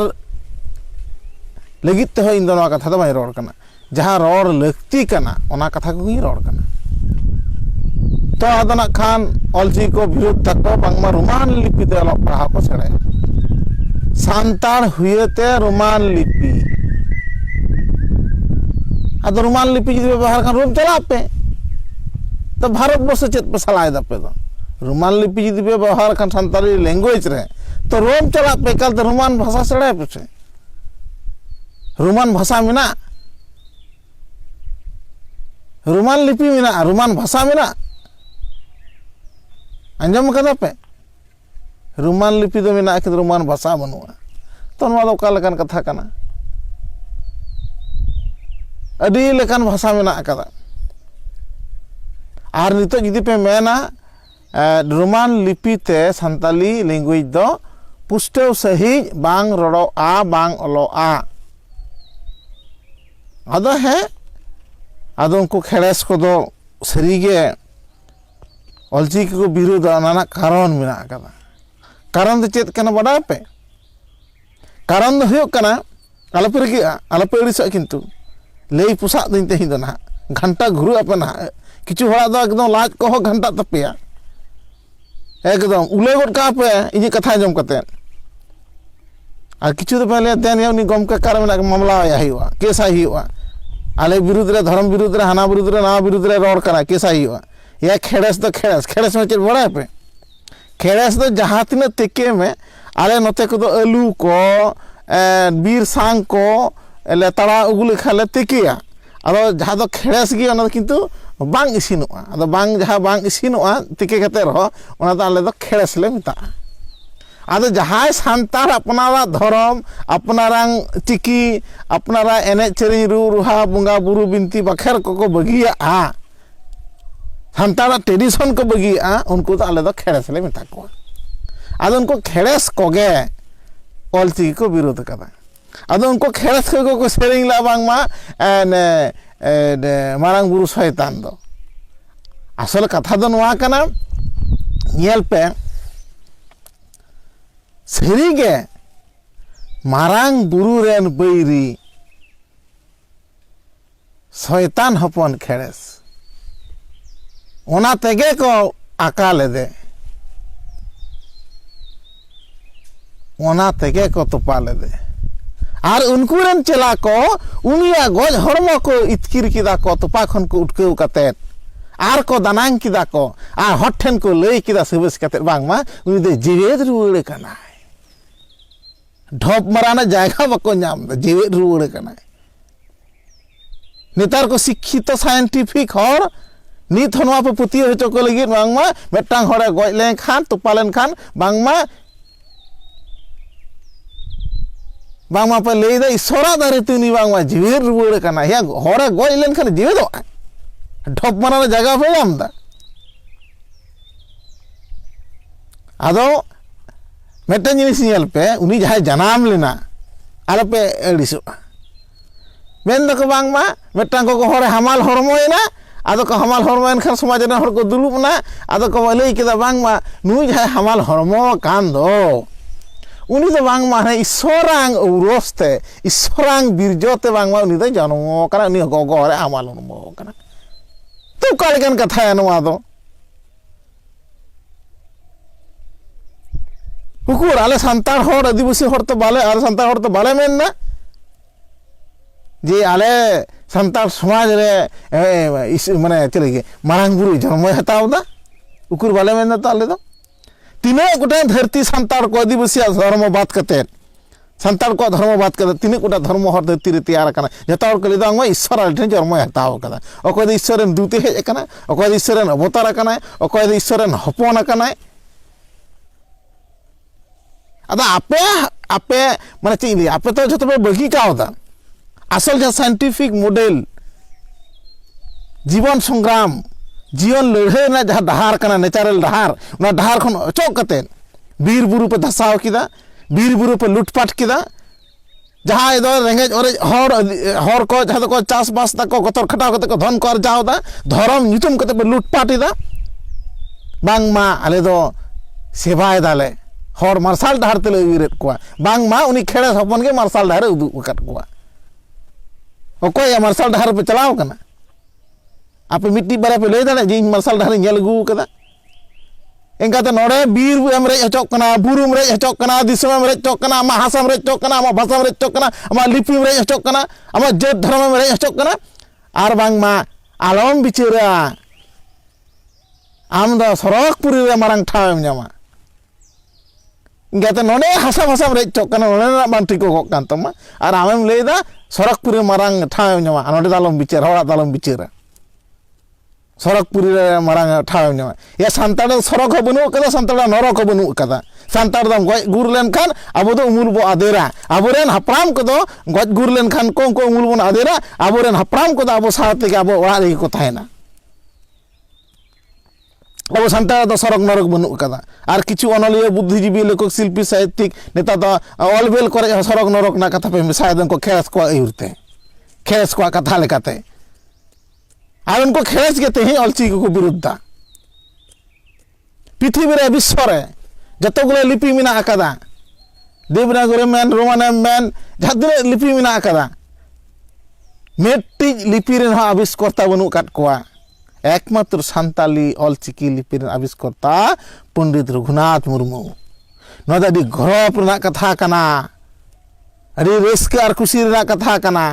ᱞᱟᱹᱜᱤᱫ ᱛᱮᱦᱚᱸ ᱤᱧ ᱫᱚ ᱱᱚᱣᱟ ᱠᱟᱛᱷᱟ ᱫᱚ ᱵᱟᱹᱧ ᱨᱚᱲ ᱠᱟᱱᱟ ᱡᱟᱦᱟᱸ ᱨᱚᱲ ᱞᱟᱹᱠᱛᱤ ᱠᱟᱱᱟ ᱚᱱᱟ ᱠᱟᱛᱷᱟ ᱠᱚᱜᱮᱧ ᱨᱚᱲ ᱠᱟᱱᱟ ᱛᱚ ᱟᱫᱚ ᱱᱟᱜ ᱠᱷᱟᱱ ᱚᱞᱪᱤᱠᱤ ᱠᱚ ᱵᱤᱨᱩᱫ ᱛᱟᱠᱚ ᱵᱟᱝᱢᱟ ᱨᱳᱢᱟᱱ ᱞᱤᱯᱤ ᱛᱮ ᱚᱞᱚᱜ ᱯᱟᱲᱦᱟᱣ ᱠᱚ ᱥᱮᱬᱟᱭᱟ ᱥᱟᱱᱛᱟᱲ ᱦᱩᱭᱟᱹᱛᱮ ᱨᱳᱢᱟᱱ ᱞᱤᱯᱤ ᱟᱫᱚ ᱨᱳᱢᱟᱱ ᱞᱤᱯᱤ ᱡᱩᱫᱤ ᱵᱮᱵᱚᱦᱟᱨ ᱠᱷᱟᱱ ᱨᱳᱢ ᱪᱟᱞᱟᱜ ᱯᱮ ᱛᱚ ᱵᱷᱟᱨᱚᱛ ᱵᱚᱨᱥᱚ ᱪᱮᱫ ᱯᱮ ᱥᱟᱞᱟᱭ ᱫᱟᱯᱮ ᱫᱚ ᱨᱳᱢᱟᱱ ᱞᱤᱯᱤ ᱡᱩᱫᱤ ᱯᱮ ᱵᱮᱵᱚᱦᱟᱨ ᱠᱷᱟᱱ ᱥᱟᱱᱛᱟᱲᱤ ᱞᱮᱝᱜᱩᱭᱮᱡᱽ ᱨᱮ ᱛᱚ ᱨᱳᱢ ᱪᱟᱞᱟᱜ ᱯᱮ ᱮᱠᱟᱞᱛᱮ ᱨᱳᱢᱟᱱ ᱵᱷᱟᱥᱟ ᱥᱮᱬᱟᱭ ᱯᱮᱥᱮ ᱨᱳᱢᱟᱱ ᱵᱷᱟᱥᱟ ᱢᱮᱱᱟᱜ ᱨᱳᱢᱟᱱ ᱞᱤᱯᱤ ᱢᱮᱱᱟᱜᱼᱟ ᱨᱳᱢᱟᱱ ᱵᱷᱟᱥᱟ ᱢᱮᱱᱟᱜ ᱟᱸᱡᱚᱢ ᱠᱟᱫᱟ ᱯᱮ ᱨᱳᱢᱟᱱ ᱞᱤᱯᱤ ᱫᱚ ᱢᱮᱱᱟᱜᱼᱟ ᱠᱤᱱᱛᱩ ᱨᱳᱢᱟᱱ ᱵᱷᱟᱥᱟ ᱵᱟᱹᱱᱩᱜᱼᱟ ᱛᱚ ᱱᱚᱣᱟ ᱫᱚ ᱚᱠᱟ ᱞᱮᱠᱟᱱ ᱠᱟᱛᱷᱟ ᱠᱟᱱᱟ ᱟᱹᱰᱤ ᱞᱮᱠᱟᱱ ᱵᱷᱟᱥᱟ ᱢᱮᱱᱟᱜ ᱟᱠᱟᱫᱟ ᱟᱨ ᱱᱤᱛᱚᱜ ᱡᱩᱫᱤ ᱯᱮ ᱢᱮᱱᱟ ᱨᱳᱢᱟᱱ ᱞᱤᱯᱤ ᱛᱮ ᱥᱟᱱᱛᱟᱞᱤ ᱞᱮᱝᱜᱩᱭᱮᱡᱽ ᱫᱚ ᱯᱩᱥᱴᱟᱹᱣ ᱥᱟᱺᱦᱤᱡ ᱵᱟᱝ ᱨᱚᱲᱚᱜᱼᱟ ᱵᱟᱝ ᱚᱞᱚᱜᱼᱟ ᱟᱫᱚ ᱦᱮᱸ ᱟᱫᱚ ᱩᱱᱠᱩ ᱠᱷᱮᱲᱮᱥ ᱠᱚᱫᱚ ᱥᱟᱹᱨᱤᱜᱮ ᱚᱞᱪᱤᱠᱤ ᱠᱚ ᱵᱤᱨᱩᱫᱟ ᱚᱱᱟ ᱨᱮᱱᱟᱜ ᱠᱟᱨᱚᱱ ᱢᱮᱱᱟᱜ ᱟᱠᱟᱫᱟ ᱠᱟᱨᱚᱱ ᱫᱚ ᱪᱮᱫ ᱠᱟᱱᱟ ᱵᱟᱰᱟᱭ ᱟᱯᱮ ᱠᱟᱨᱚᱱ ᱫᱚ ᱦᱩᱭᱩᱜ ᱠᱟᱱᱟ ᱟᱞᱚᱯᱮ ᱨᱟᱹᱜᱤᱜᱼᱟ ᱟᱞᱚᱯᱮ ᱟᱹᱲᱤᱥᱚᱜᱼᱟ ᱠᱤᱱᱛᱩ ᱞᱟᱹᱭ ᱯᱚᱥᱟᱜ ᱫᱟᱹᱧ ᱛᱮᱦᱮᱧ ᱫᱚ ᱱᱟᱦᱟᱜ ᱜᱷᱟᱱᱴᱟ ᱜᱷᱩᱨᱟᱹᱜ ᱟᱯᱮ ᱱᱟᱦᱟᱜ ᱠᱤᱪᱷᱩ ᱦᱚᱲᱟᱜ ᱫᱚ ᱮᱠᱫᱚᱢ ᱞᱟᱡ ᱠᱚᱦᱚᱸ ᱜᱷᱟᱱᱴᱟᱜ ᱛᱟᱯᱮᱭᱟ ᱮᱠᱫᱚᱢ ᱩᱞᱟᱹ ᱜᱚᱫ ᱠᱟᱜᱼᱟ ᱯᱮ ᱤᱧᱟᱹᱜ ᱠᱟᱛᱷᱟ ᱟᱸᱡᱚᱢ ᱠᱟᱛᱮᱫ ᱟᱨ ᱠᱤᱪᱷᱩ ᱫᱚᱯᱮ ᱞᱟᱹᱭᱟ ᱫᱮᱱ ᱩᱱᱤ ᱜᱚᱢᱠᱮ ᱚᱠᱟᱨᱮ ᱢᱮᱱᱟᱜ ᱢᱟᱢᱞᱟ ᱟᱭ ᱦᱩᱭᱩᱜᱼᱟ ᱠᱮᱥ ᱟᱭ ᱦᱩᱭᱩᱜᱼᱟ ᱟᱞᱮ ᱵᱤᱨᱩᱫᱽ ᱨᱮ ᱫᱷᱚᱨᱚᱢ ᱵᱤᱨᱩᱫᱽ ᱨᱮ ᱦᱟᱱᱟ ᱵᱤᱨᱩᱫᱽ ᱨᱮ ᱱᱟᱣᱟ ᱵᱤᱨᱩᱫᱽ ᱨᱮ ᱨᱚᱲ ᱠᱟᱱᱟ ᱠᱮᱥ ᱟᱭ ᱦᱩᱭᱩᱜᱼᱟ ᱮᱭᱟ ᱠᱷᱮᱲᱮᱥ ᱫᱚ ᱠᱷᱮᱲᱮᱥ ᱠᱷᱮᱲᱮᱥ ᱢᱟ ᱪᱮᱫ ᱵᱟᱲᱟᱭᱟᱯᱮ ᱠᱷᱮᱲᱮᱥ ᱫᱚ ᱡᱟᱦᱟᱸ ᱛᱤᱱᱟᱹᱜ ᱛᱮᱠᱮ ᱢᱮ ᱟᱞᱮ ᱱᱚᱛᱮ ᱠᱚᱫᱚ ᱟᱹᱞᱩ ᱠᱚ ᱵᱤᱨ ᱥᱟᱝ ᱠᱚ ᱞᱮ ᱛᱟᱲᱟᱣ ᱟᱹᱜᱩ ᱞᱮᱠᱷᱟᱱ ᱞᱮ ᱛᱤᱠᱤᱭᱟ ᱟᱫᱚ ᱡᱟᱦᱟᱸ ᱫᱚ ᱠᱷᱮᱲᱮᱥ ᱜᱮᱭᱟ ᱚᱱᱟ ᱫᱚ ᱠᱤᱱᱛᱩ ᱵᱟᱝ ᱤᱥᱤᱱᱚᱜᱼᱟ ᱟᱫᱚ ᱵᱟᱝ ᱡᱟᱦᱟᱸ ᱵᱟᱝ ᱤᱥᱤᱱᱚᱜᱼᱟ ᱛᱤᱠᱤ ᱠᱟᱛᱮᱫ ᱨᱮᱦᱚᱸ ᱚᱱᱟ ᱫᱚ ᱟᱞᱮ ᱫᱚ ᱠᱷᱮᱲᱮᱥ ᱞᱮ ᱢᱮᱛᱟᱜᱼᱟ ᱟᱫᱚ ᱡᱟᱦᱟᱸᱭ ᱥᱟᱱᱛᱟᱲ ᱟᱯᱱᱟᱨᱟᱜ ᱫᱷᱚᱨᱚᱢ, ᱟᱯᱱᱟᱨᱟᱝ ᱪᱤᱠᱤ, ᱟᱯᱱᱟᱨᱟᱜ ᱮᱱᱮᱡ ᱥᱮᱨᱮᱧ, ᱨᱩ ᱨᱩᱦᱟ, ᱵᱚᱸᱜᱟ ᱵᱩᱨᱩ ᱵᱤᱱᱛᱤ ᱵᱟᱠᱷᱮᱬ ᱠᱚᱠᱚ ᱵᱟᱹᱜᱤᱭᱟᱜᱼᱟ, ᱥᱟᱱᱛᱟᱲᱟᱜ ᱴᱨᱮᱰᱤᱥᱚᱱ ᱠᱚ ᱵᱟᱹᱜᱤᱭᱟᱜᱼᱟ, ᱩᱱᱠᱩ ᱫᱚ ᱟᱞᱮ ᱫᱚ ᱠᱷᱮᱲᱮᱥ ᱞᱮ ᱢᱮᱛᱟ ᱠᱚᱣᱟ᱾ ᱟᱫᱚ ᱩᱱᱠᱩ ᱠᱷᱮᱲᱮᱥ ᱠᱚᱜᱮ ᱚᱞᱪᱤᱠᱤ ᱠᱚ ᱵᱤᱨᱳᱫᱷ ᱟᱠᱟᱫᱟ᱾ ᱟᱫᱚ ᱩᱱᱠᱩ ᱠᱷᱮᱲᱮᱛ ᱠᱷᱚᱡ ᱜᱮᱠᱚ ᱥᱮᱨᱮᱧ ᱞᱮᱫᱟ ᱵᱟᱝᱢᱟ ᱢᱟᱨᱟᱝ ᱵᱩᱨᱩ ᱥᱚᱭᱛᱟᱱ ᱫᱚ ᱟᱥᱚᱞ ᱠᱟᱛᱷᱟ ᱫᱚ ᱱᱚᱣᱟ ᱠᱟᱱᱟ ᱧᱮᱞ ᱯᱮ ᱥᱟᱹᱨᱤᱜᱮ ᱢᱟᱨᱟᱝ ᱵᱩᱨᱩ ᱨᱮᱱ ᱵᱟᱹᱭᱨᱤ ᱥᱚᱭᱛᱟᱱ ᱦᱚᱯᱚᱱ ᱠᱷᱮᱲᱮᱥ ᱚᱱᱟ ᱛᱮᱜᱮ ᱠᱚ ᱟᱠᱟ ᱞᱮᱫᱮ ᱚᱱᱟ ᱛᱮᱜᱮ ᱠᱚ ᱛᱚᱯᱟ ᱞᱮᱫᱮ ᱟᱨ ᱩᱱᱠᱩ ᱨᱮᱱ ᱪᱮᱞᱟ ᱠᱚ ᱩᱱᱤᱭᱟᱜ ᱜᱚᱡ ᱦᱚᱲᱢᱚ ᱠᱚ ᱤᱛᱠᱤᱨ ᱠᱮᱫᱟ ᱠᱚ ᱛᱚᱯᱟ ᱠᱷᱚᱱ ᱠᱚ ᱩᱴᱠᱟᱹᱣ ᱠᱟᱛᱮᱫ ᱟᱨ ᱠᱚ ᱫᱟᱱᱟᱝ ᱠᱮᱫᱟ ᱠᱚ ᱟᱨ ᱦᱚᱲ ᱴᱷᱮᱱ ᱠᱚ ᱞᱟᱹᱭ ᱠᱮᱫᱟ ᱥᱟᱹᱵᱟᱹᱥ ᱠᱟᱛᱮᱫ ᱵᱟᱝᱢᱟ ᱩᱱᱤ ᱫᱚ ᱡᱮᱣᱮᱫ ᱨᱩᱣᱟᱹᱲ ᱠᱟᱱᱟᱭ ᱰᱷᱚᱯ ᱢᱟᱨᱟᱣ ᱨᱮᱱᱟᱜ ᱡᱟᱭᱜᱟ ᱵᱟᱠᱚ ᱧᱟᱢ ᱮᱫᱟ ᱡᱮᱣᱮᱫ ᱨᱩᱣᱟᱹᱲ ᱠᱟᱱᱟᱭ ᱱᱮᱛᱟᱨ ᱠᱚ ᱥᱤᱠᱠᱷᱤᱛᱚ ᱥᱟᱭᱮᱱᱴᱤᱯᱷᱤᱠ ᱦᱚᱲ ᱱᱤᱛ ᱦᱚᱸ ᱱᱚᱣᱟ ᱯᱮ ᱯᱟᱹᱛᱭᱟᱹᱣ ᱦᱚᱪᱚ ᱠᱚ ᱞᱟᱹᱜᱤᱫ ᱵᱟᱝᱢᱟ ᱢᱤᱫᱴᱟᱝ ᱦᱚᱲᱮ ᱜᱚᱡ ᱞᱮᱱᱠᱷᱟᱱ ᱛᱚᱯᱟ ᱞᱮᱱᱠᱷᱟᱱ ᱵᱟᱝᱢᱟ ᱵᱟᱝᱢᱟ ᱯᱮ ᱞᱟᱹᱭᱫᱟ ᱤᱥᱚᱨᱟᱜ ᱫᱟᱨᱮ ᱛᱮ ᱩᱱᱤ ᱵᱟᱝᱢᱟ ᱡᱤᱣᱮᱫ ᱨᱩᱣᱟᱹᱲ ᱠᱟᱱᱟ ᱦᱮᱸ ᱦᱚᱲᱮ ᱜᱚᱡ ᱞᱮᱱᱠᱷᱟᱱ ᱡᱤᱣᱮᱫᱚᱜᱼᱟ ᱰᱷᱚᱯ ᱢᱟᱨᱟᱣ ᱨᱮ ᱡᱟᱭᱜᱟ ᱯᱮ ᱧᱟᱢ ᱮᱫᱟ ᱟᱫᱚ ᱢᱤᱫᱴᱮᱱ ᱡᱤᱱᱤᱥ ᱧᱮᱞ ᱯᱮ ᱩᱱᱤ ᱡᱟᱦᱟᱸᱭ ᱡᱟᱱᱟᱢ ᱞᱮᱱᱟ ᱟᱞᱚᱯᱮ ᱟᱹᱲᱤᱥᱚᱜᱼᱟ ᱢᱮᱱ ᱫᱟᱠᱚ ᱵᱟᱝᱢᱟ ᱢᱤᱫᱴᱟᱝ ᱜᱚᱜᱚ ᱦᱚᱲᱮ ᱦᱟᱢᱟᱞ ᱦᱚᱲᱢᱚᱭᱮᱱᱟ ᱟᱫᱚ ᱠᱚ ᱦᱟᱢᱟᱞ ᱦᱚᱲᱢᱚᱭᱮᱱ ᱠᱷᱟᱱ ᱥᱚᱢᱟᱡᱽ ᱨᱮᱱ ᱦᱚᱲ ᱠᱚ ᱫᱩᱲᱩᱵ ᱮᱱᱟ ᱟᱫᱚ ᱠᱚ ᱞᱟᱹᱭ ᱠᱮᱫᱟ ᱵᱟᱝᱢᱟ ᱱᱩᱭ ᱡᱟᱦᱟᱸᱭ ᱦᱟᱢᱟᱞ ᱦᱚᱲᱢᱚ ᱠᱟᱱ ᱫᱚ ᱩᱱᱤ ᱫᱚ ᱵᱟᱝᱢᱟ ᱦᱟᱱᱮ ᱤᱥᱥᱚᱨᱟᱝ ᱩᱨᱚᱥ ᱛᱮ ᱤᱥᱥᱚᱨᱟᱝ ᱵᱤᱨᱡᱚ ᱛᱮ ᱵᱟᱝᱢᱟ ᱩᱱᱤ ᱫᱚᱭ ᱡᱚᱱᱢᱚ ᱠᱟᱱᱟ ᱩᱱᱤ ᱜᱚᱜᱚ ᱦᱚᱲᱮ ᱦᱟᱢᱟᱞ ᱦᱚᱲᱢᱚ ᱠᱟᱱᱟ ᱛᱚ ᱚᱠᱟ ᱞᱮᱠᱟᱱ ᱠᱟᱛᱷᱟᱭᱟ ᱱᱚᱣᱟ ᱫᱚ ᱩᱠᱩᱨ ᱟᱞᱮ ᱥᱟᱱᱛᱟᱲ ᱦᱚᱲ ᱟᱹᱫᱤᱵᱟᱹᱥᱤ ᱦᱚᱲ ᱛᱚ ᱵᱟᱞᱮ ᱟᱞᱮ ᱥᱟᱱᱛᱟᱲ ᱦᱚᱲ ᱛᱚ ᱵᱟᱞᱮ ᱢᱮᱱᱫᱟ ᱡᱮ ᱟᱞᱮ ᱥᱟᱱᱛᱟᱲ ᱥᱚᱢᱟᱡᱽ ᱨᱮ ᱢᱟᱱᱮ ᱪᱮᱫ ᱞᱟᱹᱜᱤᱫ ᱢᱟᱨᱟᱝ ᱵᱩᱨᱩ ᱡᱚᱱᱢᱚᱭ ᱦᱟᱛᱟᱣᱫᱟ ᱩᱠᱩᱨ ᱵᱟᱞᱮ ᱢᱮᱱᱫᱟ ᱛᱚ ᱟᱞᱮ ᱫᱚ ᱛᱤᱱᱟᱹᱜ ᱜᱚᱴᱟᱝ ᱫᱷᱟᱹᱨᱛᱤ ᱥᱟᱱᱛᱟᱲ ᱠᱚ ᱟᱹᱫᱤᱵᱟᱹᱥᱤᱭᱟᱜ ᱫᱷᱚᱨᱢᱚ ᱵᱟᱫ ᱠᱟᱛᱮᱫ ᱥᱟᱱᱛᱟᱲ ᱠᱚᱣᱟᱜ ᱫᱷᱚᱨᱢᱚ ᱵᱟᱫ ᱠᱟᱛᱮᱫ ᱛᱤᱱᱟᱹᱜ ᱜᱚᱴᱟᱝ ᱫᱷᱚᱨᱢᱚ ᱦᱚᱲ ᱫᱷᱟᱹᱨᱛᱤ ᱨᱮ ᱛᱮᱭᱟᱨ ᱟᱠᱟᱱᱟ ᱡᱚᱛᱚ ᱦᱚᱲ ᱠᱚ ᱞᱟᱹᱭᱫᱟ ᱵᱟᱝᱢᱟ ᱤᱥᱥᱚᱨ ᱟᱞᱮ ᱴᱷᱮᱱ ᱡᱚᱱᱢᱚᱭ ᱦᱟᱛᱟᱣ ᱟᱠᱟᱫᱟ ᱚᱠᱚᱭ ᱫᱚ ᱤᱥᱥᱚᱨ ᱨᱮᱱ ᱫᱩᱛᱮ ᱦᱮᱡ ᱟᱠᱟᱱᱟ ᱚᱠᱚᱭ ᱫᱚ ᱤᱥᱥᱚᱨ ᱨᱮᱱ ᱚᱵᱚᱛᱟᱨ ᱟᱠᱟᱱᱟᱭ ᱚᱠᱚᱭ ᱫᱚ ᱤᱥᱥᱚᱨ ᱨᱮᱱ ᱦᱚᱯᱚᱱ ᱟᱠᱟᱱᱟᱭ ᱟᱫᱚ ᱟᱯᱮ ᱟᱯᱮ ᱢᱟᱱᱮ ᱪᱮᱫ ᱤᱧ ᱞᱟᱹᱭᱟ ᱟᱯᱮ ᱛᱚ ᱡᱷᱚᱛᱚ ᱯᱮ ᱵᱟᱹᱜᱤ ᱠᱟᱣᱫᱟ ᱟᱥᱚᱞ ᱡᱟᱦᱟᱸ ᱥᱟᱭᱮᱱᱴᱤᱯᱷᱤᱠ ᱢᱚᱰᱮᱞ ᱡᱤᱵᱚᱱ ᱥᱚᱝᱜᱨᱟᱢ ᱡᱤᱭᱚᱱ ᱞᱟᱹᱲᱦᱟᱹᱭ ᱨᱮᱱᱟᱜ ᱡᱟᱦᱟᱸ ᱰᱟᱦᱟᱨ ᱠᱟᱱᱟ ᱱᱮᱪᱟᱨᱮᱞ ᱰᱟᱦᱟᱨ ᱚᱱᱟ ᱰᱟᱦᱟᱨ ᱠᱷᱚᱱ ᱚᱪᱚᱜ ᱠᱟᱛᱮ ᱵᱤᱨ ᱵᱩᱨᱩ ᱯᱮ ᱫᱷᱟᱥᱟᱣ ᱠᱮᱫᱟ ᱵᱤᱨ ᱵᱩᱨᱩ ᱯᱮ ᱞᱩᱴᱯᱟᱴ ᱠᱮᱫᱟ ᱡᱟᱦᱟᱸᱭ ᱫᱚ ᱨᱮᱸᱜᱮᱡ ᱚᱨᱮᱡ ᱦᱚᱲ ᱦᱚᱲ ᱠᱚ ᱡᱟᱦᱟᱸ ᱫᱚᱠᱚ ᱪᱟᱥᱵᱟᱥ ᱫᱟᱠᱚ ᱜᱚᱛᱚᱨ ᱠᱷᱟᱴᱟᱣ ᱠᱟᱛᱮ ᱠᱚ ᱫᱷᱚᱱ ᱠᱚ ᱟᱨᱡᱟᱣ ᱮᱫᱟ ᱫᱷᱚᱨᱚᱢ ᱧᱩᱛᱩᱢ ᱠᱟᱛᱮ ᱯᱮ ᱞᱩᱴᱯᱟᱴ ᱮᱫᱟ ᱵᱟᱝᱢᱟ ᱟᱞᱮ ᱫᱚ ᱥᱮᱵᱟᱭ ᱫᱟᱞᱮ ᱦᱚᱲ ᱢᱟᱨᱥᱟᱞ ᱰᱟᱦᱟᱨ ᱛᱮᱞᱮ ᱟᱹᱭᱩᱨᱮᱫ ᱠᱚᱣᱟ ᱵᱟᱝᱢᱟ ᱩᱱᱤ ᱠᱷᱮᱲᱮ ᱦᱚᱯᱚᱱ ᱜᱮ ᱢᱟᱨᱥᱟᱞ ᱰᱟᱦᱟᱨᱮ ᱩᱫᱩᱜ ᱟᱠᱟᱫ ᱠᱚᱣᱟ ᱚᱠᱚᱭ ᱢᱟᱨᱥᱟᱞ ᱰᱟᱦᱟᱨ ᱯᱮ ᱪᱟᱞᱟᱣ ᱠᱟᱱᱟ ᱟᱯᱮ ᱢᱤᱫᱴᱤᱡ ᱵᱟᱨᱭᱟ ᱯᱮ ᱞᱟᱹᱭ ᱫᱟᱲᱮᱭᱟᱜᱼᱟ ᱡᱮ ᱤᱧ ᱢᱟᱨᱥᱟᱞ ᱰᱟᱦᱟᱨᱤᱧ ᱧᱮᱞ ᱟᱹᱜᱩ ᱟᱠᱟᱫᱟ ᱮᱱᱠᱟᱛᱮ ᱱᱚᱰᱮ ᱵᱤᱨ ᱮᱢ ᱨᱮᱡ ᱦᱚᱪᱚᱜ ᱠᱟᱱᱟ ᱵᱩᱨᱩᱢ ᱨᱮᱡ ᱦᱚᱪᱚᱜ ᱠᱟᱱᱟ ᱫᱤᱥᱚᱢ ᱮᱢ ᱨᱮᱡ ᱦᱚᱪᱚᱜ ᱠᱟᱱᱟ ᱟᱢᱟᱜ ᱦᱟᱥᱟᱢ ᱨᱮᱡ ᱦᱚᱪᱚᱜ ᱠᱟᱱᱟ ᱟᱢᱟᱜ ᱵᱷᱟᱥᱟᱢ ᱨᱮᱡ ᱦᱚᱪᱚᱜ ᱠᱟᱱᱟ ᱟᱢᱟᱜ ᱞᱤᱯᱤᱢ ᱨᱮᱡ ᱦᱚᱪᱚᱜ ᱠᱟᱱᱟ ᱟᱢᱟᱜ ᱡᱟᱹᱛ ᱫᱷᱚᱨᱚᱢ ᱮᱢ ᱨᱮᱡ ᱦᱚᱪᱚᱜ ᱠᱟᱱᱟ ᱟᱨ ᱵᱟᱝᱢᱟ ᱟᱞᱚᱢ ᱵᱤᱪᱟᱹᱨᱟ ᱟᱢ ᱫᱚ ᱥᱚᱨᱚᱜᱽᱯᱩᱨᱤ ᱨᱮ ᱢᱟᱨᱟᱝ ᱴᱷᱟᱶ ᱮᱢ ᱧᱟᱢᱟ ᱜᱟᱛᱮ ᱱᱚᱰᱮ ᱦᱟᱥᱟ ᱵᱷᱟᱥᱟᱢ ᱨᱮᱡ ᱦᱚᱪᱚᱜ ᱠᱟᱱᱟ ᱱᱚᱰᱮ ᱨᱮᱱᱟᱜ ᱵᱟᱝ ᱴᱷᱤᱠᱚᱜᱚᱜ ᱠᱟᱱ ᱛᱟᱢᱟ ᱟᱨ ᱟᱢᱮᱢ ᱞᱟᱹᱭᱫᱟ ᱥᱚᱨᱚᱜᱽᱯᱩᱨᱤ ᱢᱟᱨᱟᱝ ᱴᱷᱟᱶ ᱮᱢ ᱧᱟᱢᱟ ᱱᱚᱰᱮ ᱫᱚ ᱟᱞᱚᱢ ᱵᱤᱪᱟᱹᱨᱟ ᱦᱚᱲᱟᱜ ᱫᱚ ᱟᱞᱚᱢ ᱵᱤᱪᱟᱹᱨᱟ ᱥᱚᱨᱚᱠ ᱯᱩᱨᱤ ᱨᱮ ᱢᱟᱲᱟᱝ ᱴᱷᱟᱶ ᱧᱟᱢᱟ ᱮᱭᱟ ᱥᱟᱱᱛᱟᱲ ᱫᱚ ᱥᱚᱨᱚᱠ ᱦᱚᱸ ᱵᱟᱹᱱᱩᱜ ᱠᱟᱫᱟ ᱥᱟᱱᱛᱟᱲ ᱫᱚ ᱱᱚᱨᱚᱠ ᱦᱚᱸ ᱵᱟᱹᱱᱩᱜ ᱠᱟᱫᱟ ᱥᱟᱱᱛᱟᱲ ᱫᱚ ᱜᱚᱡ ᱜᱩᱨ ᱞᱮᱱᱠᱷᱟᱱ ᱟᱵᱚ ᱫᱚ ᱩᱢᱩᱞ ᱵᱚ ᱟᱫᱮᱨᱟ ᱟᱵᱚᱨᱮᱱ ᱦᱟᱯᱲᱟᱢ ᱠᱚᱫᱚ ᱜᱚᱡ ᱜᱩᱨ ᱞᱮᱱᱠᱷᱟᱱ ᱠᱚ ᱩᱱᱠᱩ ᱩᱢᱩᱞ ᱵᱚᱱ ᱟᱫᱮᱨᱟ ᱟᱵᱚᱨᱮᱱ ᱦᱟᱯᱲᱟᱢ ᱠᱚᱫᱚ ᱟᱵᱚ ᱥᱟᱶ ᱛᱮᱜᱮ ᱟᱵᱚ ᱚᱲᱟᱜ ᱨᱮᱜᱮ ᱠᱚ ᱛᱟᱦᱮᱱᱟ ᱟᱵᱚ ᱥᱟᱱᱛᱟᱲ ᱫᱚ ᱥᱚᱨᱚᱠ ᱱᱚᱨᱚᱠ ᱵᱟᱹᱱᱩᱜ ᱠᱟᱫᱟ ᱟᱨ ᱠᱤᱪᱷᱩ ᱚᱱᱚᱞᱤᱭᱟᱹ ᱵᱩᱫᱽᱫᱷᱤᱡᱤᱵᱤ ᱞᱮᱠᱷᱚᱠ ᱥᱤᱞᱯᱤ ᱥᱟᱦᱤᱛᱭᱤᱠ ᱱᱮᱛᱟᱨ ᱫᱚ ᱚᱞᱵᱮᱞ ᱠᱚᱨᱮ ᱦᱚᱸ ᱥᱚᱨᱚᱠ ᱱᱚᱨᱚᱠ ᱨᱮᱱᱟᱜ ᱠᱟᱛᱷᱟ ᱯᱮ ᱢᱮᱥᱟᱭᱮᱫᱟ ᱩᱱᱠᱩ ᱠᱷᱮᱨᱮᱥ ᱠᱚᱣᱟᱜ ᱟᱹᱭᱩᱨ ᱛᱮ ᱠᱷᱮᱨᱮᱥ ᱠᱚᱣᱟᱜ ᱠᱟᱛᱷᱟ ᱞᱮᱠᱟᱛᱮ ᱟᱨ ᱩᱱᱠᱩ ᱠᱷᱮᱨᱮᱡ ᱜᱮ ᱛᱮᱦᱮᱧ ᱚᱞᱪᱤᱠᱤ ᱠᱚᱠᱚ ᱵᱤᱨᱩᱫᱷᱫᱟ ᱯᱨᱤᱛᱷᱤᱵᱤ ᱨᱮ ᱵᱤᱥᱥᱚ ᱨᱮ ᱡᱚᱛᱚᱜᱩᱞᱟᱹ ᱞᱤᱯᱤ ᱢᱮᱱᱟᱜ ᱟᱠᱟᱫᱟ ᱫᱮᱵᱽᱱᱟᱜᱚᱨᱤ ᱢᱮᱱ ᱨᱳᱢᱟᱱᱮ ᱢᱮᱱ ᱡᱟᱦᱟᱸ ᱛᱤᱱᱟᱹᱜ ᱞᱤᱯᱤ ᱢᱮᱱᱟᱜ ᱟᱠᱟᱫᱟ ᱢᱤᱫᱴᱤᱡ ᱞᱤᱯᱤ ᱨᱮᱱ ᱦᱚᱸ ᱟᱵᱤᱥᱠᱚᱨᱛᱟ ᱵᱟᱹᱱᱩᱜ ᱟᱠᱟᱫ ᱠᱚᱣᱟ ᱮᱠᱢᱟᱛᱨᱚ ᱥᱟᱱᱛᱟᱞᱤ ᱚᱞᱪᱤᱠᱤ ᱞᱤᱯᱤ ᱨᱮᱱ ᱟᱵᱤᱥᱠᱚᱨᱛᱟ ᱯᱚᱱᱰᱤᱛ ᱨᱚᱜᱷᱩᱱᱟᱛᱷ ᱢᱩᱨᱢᱩ ᱱᱚᱣᱟ ᱫᱚ ᱟᱹᱰᱤ ᱜᱚᱨᱚᱵᱽ ᱨᱮᱱᱟᱜ ᱠᱟᱛᱷᱟ ᱠᱟᱱᱟ ᱟᱹᱰᱤ ᱨᱟᱹᱥᱠᱟᱹ ᱟᱨ ᱠᱩᱥᱤ ᱨᱮᱱᱟᱜ ᱠᱟᱛᱷᱟ ᱠᱟᱱᱟ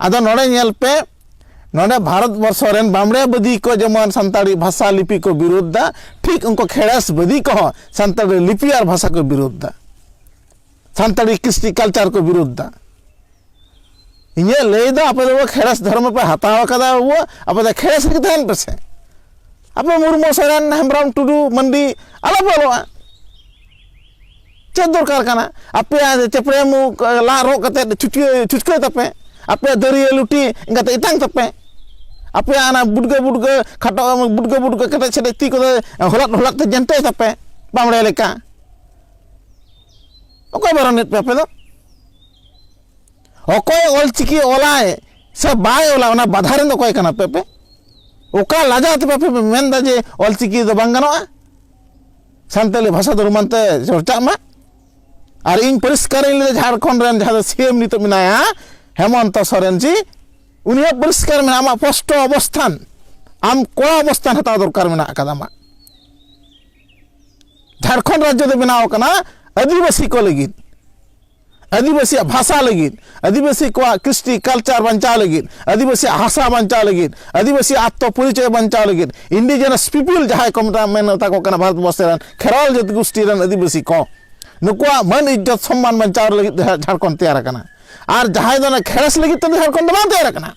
ᱟᱫᱚ ᱱᱚᱰᱮ ᱧᱮᱞ ᱯᱮ ᱱᱚᱰᱮ ᱵᱷᱟᱨᱚᱛ ᱵᱚᱨᱥᱚ ᱨᱮᱱ ᱵᱟᱢᱲᱮ ᱵᱟᱹᱫᱤ ᱠᱚ ᱡᱮᱢᱚᱱ ᱥᱟᱱᱛᱟᱲᱤ ᱵᱷᱟᱥᱟ ᱞᱤᱯᱤ ᱠᱚ ᱵᱤᱨᱳᱫᱷ ᱫᱟ ᱴᱷᱤᱠ ᱩᱱᱠᱩ ᱠᱷᱮᱲᱮᱥ ᱵᱟᱹᱫᱤ ᱠᱚᱦᱚᱸ ᱥᱟᱱᱛᱟᱲᱤ ᱞᱤᱯᱤ ᱟᱨ ᱵᱷᱟᱥᱟ ᱠᱚ ᱵᱤᱨᱳᱫᱷ ᱫᱟ ᱥᱟᱱᱛᱟᱲᱤ ᱠᱨᱤᱥᱴᱤ ᱠᱟᱞᱪᱟᱨ ᱠᱚ ᱵᱤᱨᱳᱫᱷ ᱫᱟ ᱤᱧᱟᱹᱜ ᱞᱟᱹᱭ ᱫᱚ ᱟᱯᱮ ᱫᱚ ᱠᱷᱮᱲᱮᱥ ᱫᱷᱚᱨᱢ ᱯᱮ ᱦᱟᱛᱟᱣ ᱟᱠᱟᱫᱟ ᱵᱟᱹᱵᱩ ᱟᱯᱮ ᱫᱚ ᱠᱷᱮᱲᱮᱥ ᱨᱮᱜᱮ ᱛᱟᱦᱮᱱ ᱯᱮᱥᱮ ᱟᱯᱮ ᱢᱩᱨᱢᱩ ᱥᱚᱨᱮᱱ ᱦᱮᱢᱵᱨᱚᱢ ᱴᱩᱰᱩ ᱢᱟᱱᱰᱤ ᱟᱞᱚᱯᱮ ᱚᱞᱚᱜᱼᱟ ᱪᱮᱫ ᱫᱚᱨᱠᱟᱨ ᱠᱟᱱᱟ ᱟᱯᱮᱭᱟᱜ ᱪᱮᱯᱲᱮ ᱢᱩ ᱞᱟᱜ ᱨᱚᱜ ᱠᱟᱛᱮ ᱪᱷᱩᱴᱠᱟᱹ ᱪᱷᱩᱴᱠᱟᱹ ᱛᱟᱯᱮ ᱟᱯᱮᱭᱟᱜ ᱫᱟᱹᱨᱭᱟᱹ ᱞᱩᱴᱤ ᱮᱸᱜᱟᱛᱮ ᱮᱛᱟᱝ ᱛᱟᱯᱮ ᱟᱯᱮᱭᱟᱜ ᱚᱱᱟ ᱵᱩᱰᱜᱟᱹ ᱵᱩᱰᱜᱟᱹ ᱠᱷᱟᱴᱚ ᱵᱩᱰᱜᱟᱹ ᱵᱩᱰᱜᱟᱹ ᱠᱮᱴᱮᱡ ᱥᱮᱴᱮᱡ ᱛᱤ ᱠᱚᱫᱚ ᱦᱚᱞᱟᱫ ᱦᱚᱞᱟᱫ ᱛᱮ ᱡᱮᱱᱴᱮᱡ ᱛᱟᱯᱮ ᱵᱟᱢᱲᱮ ᱞᱮᱠᱟ ᱚᱠᱚᱭ ᱵᱟᱨᱚᱱᱮᱫ ᱯᱮ ᱟᱯᱮ ᱫᱚ ᱚᱠᱚᱭ ᱚᱞᱪᱤᱠᱤ ᱚᱞᱟᱭ ᱥᱮ ᱵᱟᱭ ᱚᱞᱟ ᱚᱱᱟ ᱵᱟᱫᱷᱟ ᱨᱮᱱ ᱫᱚ ᱚᱠᱚᱭ ᱠᱟᱱᱟ ᱯᱮ ᱯᱮ ᱚᱠᱟ ᱞᱟᱡᱟᱣ ᱛᱮ ᱵᱟᱯᱮ ᱢᱮᱱᱫᱟ ᱡᱮ ᱚᱞᱪᱤᱠᱤ ᱫᱚ ᱵᱟᱝ ᱜᱟᱱᱚᱜᱼᱟ ᱥᱟᱱᱛᱟᱞᱤ ᱵᱷᱟᱥᱟ ᱫᱷᱚᱨᱚᱢ ᱢᱟᱱᱛᱮ ᱪᱚᱨᱪᱟᱜ ᱢᱟ ᱟᱨ ᱤᱧ ᱯᱚᱨᱤᱥᱠᱟᱨᱤᱧ ᱞᱟᱹᱭᱫᱟ ᱡᱷᱟᱲᱠᱷᱚᱸᱰ ᱨᱮᱱ ᱡᱟᱦᱟᱸ ᱫᱚ ᱥᱤᱮᱢ ᱱᱤᱛᱚᱜ ᱢᱮᱱᱟᱭᱟ ᱦᱮᱢᱚᱱᱛᱚ ᱥᱚᱨᱮᱱ ᱡᱤ ᱩᱱᱤᱭᱟᱜ ᱯᱚᱨᱤᱥᱠᱟᱨ ᱢᱮᱱᱟᱜᱼᱟ ᱟᱢᱟᱜ ᱯᱚᱥᱴᱚ ᱚᱵᱚᱥᱛᱷᱟᱱ ᱟᱢ ᱠᱚᱲᱟ ᱚᱵᱚᱥᱛᱷᱟᱱ ᱦᱟᱛᱟᱣ ᱫᱚᱨᱠᱟর ᱢᱮᱱᱟᱜ ᱟᱠᱟᱫᱟ ᱟᱢᱟᱜ ᱡᱷᱟᱲᱠᱷᱚᱸᱰ ᱨᱟᱡᱽᱡᱚ ᱫᱚ ᱵᱮᱱᱟᱣ ᱠᱟᱱᱟ ᱟᱹᱫᱤᱵᱟᱹᱥᱤ ᱠᱚ ᱞᱟᱹᱜᱤᱫ ᱟᱹᱫᱤᱵᱟᱹᱥᱤᱭᱟᱜ ᱵᱷᱟᱥᱟ ᱞᱟᱹᱜᱤᱫ ᱟᱹᱫᱤᱵᱟᱹᱥᱤ ᱠᱚᱣᱟᱜ ᱠᱨᱤᱥᱴᱤ ᱠᱟᱞᱪᱟᱨ ᱵᱟᱧᱪᱟᱣ ᱞᱟᱹᱜᱤᱫ ᱟᱹᱫᱤᱵᱟᱹᱥᱤᱭᱟᱜ ᱦᱟᱥᱟ ᱵᱟᱧᱪᱟᱣ ᱞᱟᱹᱜᱤᱫ ᱟᱹᱫᱤᱵᱟᱹᱥᱤᱭᱟᱜ ᱟᱛᱛᱚ ᱯᱚᱨᱤᱪᱚᱭ ᱵᱟᱧᱪᱟᱣ ᱞᱟᱹᱜᱤᱫ ᱤᱱᱰᱤᱡᱮᱱᱟᱥ ᱯᱤᱯᱤᱞ ᱡᱟᱦᱟᱸᱭ ᱠᱚ ᱢᱮᱛᱟ ᱢᱮᱱ ᱢᱮᱛᱟ ᱠᱚ ᱠᱟᱱᱟ ᱵᱷᱟᱨᱚᱛ ᱵᱚᱨᱥᱚ ᱨᱮᱱ ᱠᱷᱮᱨᱣᱟᱞ ᱡᱟᱹᱛᱤ ᱜᱩᱥᱴᱤ ᱨᱮᱱ ᱟᱹᱫᱤᱵᱟᱹᱥᱤ ᱠᱚ ᱱᱩᱠᱩᱣᱟᱜ ᱢᱟᱹᱱ ᱤᱡᱽᱡᱚᱛ ᱥᱚᱢᱢᱟᱱ ᱵᱟᱧᱪᱟᱣ ᱞᱟᱹᱜᱤᱫ ᱡᱷᱟᱲᱠᱷᱚᱸᱰ ᱛᱮᱭᱟᱨ ᱟᱠᱟᱱᱟ ᱟᱨ ᱡᱟᱦᱟᱸᱭ ᱫᱚ ᱠᱷᱮᱲᱮᱥ ᱞᱟᱹᱜᱤᱫ ᱛᱮᱫᱚ ᱡᱷᱟᱲᱠᱷᱚᱸᱰ ᱫᱚ ᱵᱟᱝ ᱛᱮᱭᱟᱨ ᱟᱠᱟᱱᱟ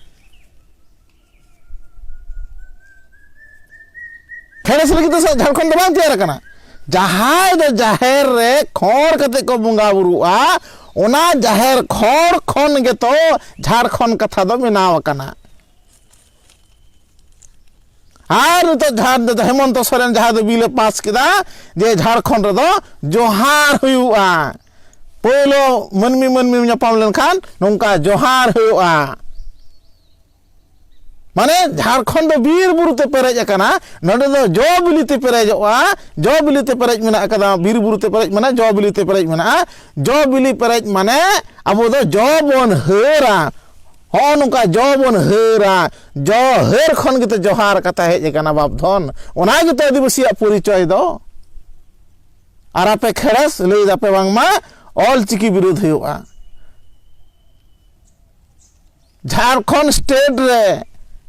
ᱯᱷᱮᱨᱮᱥ ᱞᱟᱹᱜᱤᱫ ᱫᱚ ᱡᱷᱟᱲᱠᱷᱚᱸᱰ ᱫᱚ ᱵᱟᱝ ᱛᱮᱭᱟᱨ ᱟᱠᱟᱱᱟ ᱡᱟᱦᱟᱸᱭ ᱫᱚ ᱡᱟᱦᱮᱨ ᱨᱮ ᱠᱷᱚᱸᱰ ᱠᱟᱛᱮ ᱠᱚ ᱵᱚᱸᱜᱟ ᱵᱩᱨᱩᱜᱼᱟ ᱚᱱᱟ ᱡᱟᱦᱮᱨ ᱠᱷᱚᱸᱰ ᱠᱷᱚᱱ ᱜᱮᱛᱚ ᱡᱷᱟᱲᱠᱷᱚᱸᱰ ᱠᱟᱛᱷᱟ ᱫᱚ ᱵᱮᱱᱟᱣ ᱟᱠᱟᱱᱟ ᱟᱨ ᱱᱤᱛᱚᱜ ᱡᱟᱦᱟᱸ ᱫᱚ ᱦᱮᱢᱚᱱᱛᱚ ᱥᱚᱨᱮᱱ ᱡᱟᱦᱟᱸ ᱫᱚ ᱵᱤᱞᱮ ᱯᱟᱥ ᱠᱮᱫᱟ ᱡᱮ ᱡᱷᱟᱲᱠᱷᱚᱸᱰ ᱨᱮᱫᱚ ᱡᱚᱦᱟᱨ ᱦᱩᱭᱩᱜᱼᱟ ᱯᱳᱭᱞᱳ ᱢᱟᱹᱱᱢᱤ ᱢᱟᱹᱱᱢᱤ ᱧᱟᱯᱟᱢ ᱞᱮᱱᱠᱷᱟᱱ ᱱᱚᱝᱠᱟ ᱡᱚᱦᱟᱨ ᱦᱩᱭᱩᱜᱼᱟ ᱢᱟᱱᱮ ᱡᱷᱟᱲᱠᱷᱚᱸᱰ ᱫᱚ ᱵᱤᱨ ᱵᱩᱨᱩ ᱛᱮ ᱯᱮᱨᱮᱡ ᱟᱠᱟᱱᱟ ᱱᱚᱰᱮ ᱫᱚ ᱡᱚ ᱵᱤᱞᱤ ᱛᱮ ᱯᱮᱨᱮᱡᱚᱜᱼᱟ ᱡᱚ ᱵᱤᱞᱤ ᱛᱮ ᱯᱮᱨᱮᱡ ᱢᱮᱱᱟᱜ ᱟᱠᱟᱫᱟ ᱵᱤᱨ ᱵᱩᱨᱩ ᱛᱮ ᱯᱮᱨᱮᱡ ᱢᱮᱱᱟᱜᱼᱟ ᱡᱚ ᱵᱤᱞᱤ ᱛᱮ ᱯᱮᱨᱮᱡ ᱢᱮᱱᱟᱜᱼᱟ ᱡᱚ ᱵᱤᱞᱤ ᱯᱮᱨᱮᱡ ᱢᱟᱱᱮ ᱟᱵᱚ ᱫᱚ ᱡᱚ ᱵᱚᱱ ᱦᱟᱹᱨᱟ ᱦᱚᱸᱜᱼᱚ ᱱᱚᱝᱠᱟ ᱡᱚ ᱵᱚᱱ ᱦᱟᱹᱨᱟ ᱡᱚ ᱦᱟᱹᱨ ᱠᱷᱚᱱ ᱜᱮᱛᱚ ᱡᱚᱦᱟᱨ ᱠᱟᱛᱷᱟ ᱦᱮᱡ ᱟᱠᱟᱱᱟ ᱵᱟᱯ ᱫᱷᱚᱱ ᱚᱱᱟ ᱜᱮᱛᱚ ᱟᱹᱫᱤᱵᱟᱹᱥᱤᱭᱟᱜ ᱯᱚᱨᱤᱪᱚᱭ ᱫᱚ ᱟᱨ ᱟᱯᱮ ᱠᱷᱮᱲᱮᱥ ᱞᱟᱹᱭ ᱫᱟᱯᱮ ᱵᱟᱝᱢᱟ ᱚᱞ ᱪᱤᱠᱤ ᱵᱤᱨᱳᱫᱷ ᱦᱩᱭᱩᱜᱼᱟ ᱡᱷᱟᱲᱠᱷᱚᱸᱰ ᱥᱴᱮᱴ ᱨᱮ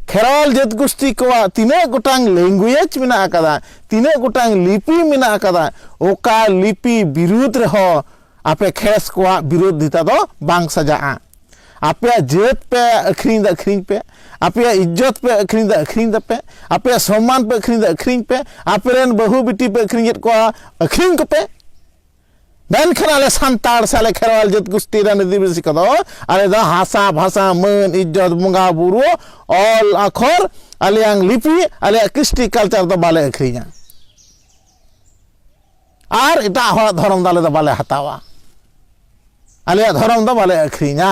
ᱠᱷᱮᱨᱣᱟᱞ ᱡᱟᱹᱛ ᱜᱩᱥᱴᱤ ᱠᱚᱣᱟᱜ ᱛᱤᱱᱟᱹᱜ ᱜᱚᱴᱟᱝ ᱞᱮᱝᱜᱩᱭᱮᱡᱽ ᱢᱮᱱᱟᱜ ᱟᱠᱟᱫᱟ ᱛᱤᱱᱟᱹᱜ ᱜᱚᱴᱟᱝ ᱞᱤᱯᱤ ᱢᱮᱱᱟᱜ ᱟᱠᱟᱫᱟ ᱚᱠᱟ ᱞᱤᱯᱤ ᱵᱤᱨᱩᱫᱽ ᱨᱮᱦᱚᱸ ᱟᱯᱮ ᱠᱷᱮᱥ ᱠᱚᱣᱟᱜ ᱵᱤᱨᱳᱫᱷᱤᱛᱟ ᱫᱚ ᱵᱟᱝ ᱥᱟᱡᱟᱜᱼᱟ ᱟᱯᱮᱭᱟᱜ ᱡᱟᱹᱛ ᱯᱮ ᱟᱹᱠᱷᱨᱤᱧ ᱫᱚ ᱟᱹᱠᱷᱨᱤᱧ ᱯᱮ ᱟᱯᱮᱭᱟᱜ ᱤᱡᱽᱡᱚᱛ ᱯᱮ ᱟᱹᱠᱷᱨᱤᱧ ᱫᱚ ᱟᱹᱠᱷᱨᱤᱧ ᱫᱟᱯᱮ ᱟᱯᱮᱭᱟᱜ ᱥᱚᱢᱢᱟᱱ ᱯᱮ ᱟᱹᱠᱷᱨᱤᱧ ᱫᱚ ᱟᱹᱠᱷᱨᱤᱧ ᱯᱮ ᱟᱯᱮᱨᱮᱱ ᱵᱟᱹᱦᱩ ᱵᱤᱴᱤ ᱯᱮ ᱟᱹᱠᱷᱨᱤᱧᱮᱫ ᱠᱚᱣᱟ ᱟᱹᱠᱷᱨᱤᱧ ᱠᱚᱯᱮ ᱢᱮᱱᱠᱷᱟᱱ ᱟᱞᱮ ᱥᱟᱱᱛᱟᱲ ᱥᱮ ᱟᱞᱮ ᱠᱷᱮᱨᱣᱟᱞ ᱡᱟᱹᱛ ᱜᱩᱥᱴᱤ ᱨᱮᱱ ᱟᱹᱫᱤᱵᱟᱹᱥᱤ ᱠᱚᱫᱚ ᱟᱞᱮ ᱫᱚ ᱦᱟᱥᱟ ᱵᱷᱟᱥᱟ ᱢᱟᱹᱱ ᱤᱡᱽᱡᱚᱛ ᱵᱚᱸᱜᱟ ᱵᱩᱨᱩ ᱚᱞ ᱟᱠᱷᱚᱨ ᱟᱞᱮᱭᱟᱝ ᱞᱤᱯᱤ ᱟᱞᱮᱭᱟᱜ ᱠᱨᱤᱥᱴᱤ ᱠᱟᱞᱪᱟᱨ ᱫᱚ ᱵᱟᱞᱮ ᱟᱹᱠᱷᱨᱤᱧᱟ ᱟᱨ ᱮᱴᱟᱜ ᱦᱚᱲᱟᱜ ᱫᱷᱚᱨᱚᱢ ᱫᱚ ᱟᱞᱮ ᱫᱚ ᱵᱟᱞᱮ ᱦᱟᱛᱟᱣᱟ ᱟᱞᱮᱭᱟᱜ ᱫᱷᱚᱨᱚᱢ ᱫᱚ ᱵᱟᱞᱮ ᱟᱹᱠᱷᱨᱤᱧᱟ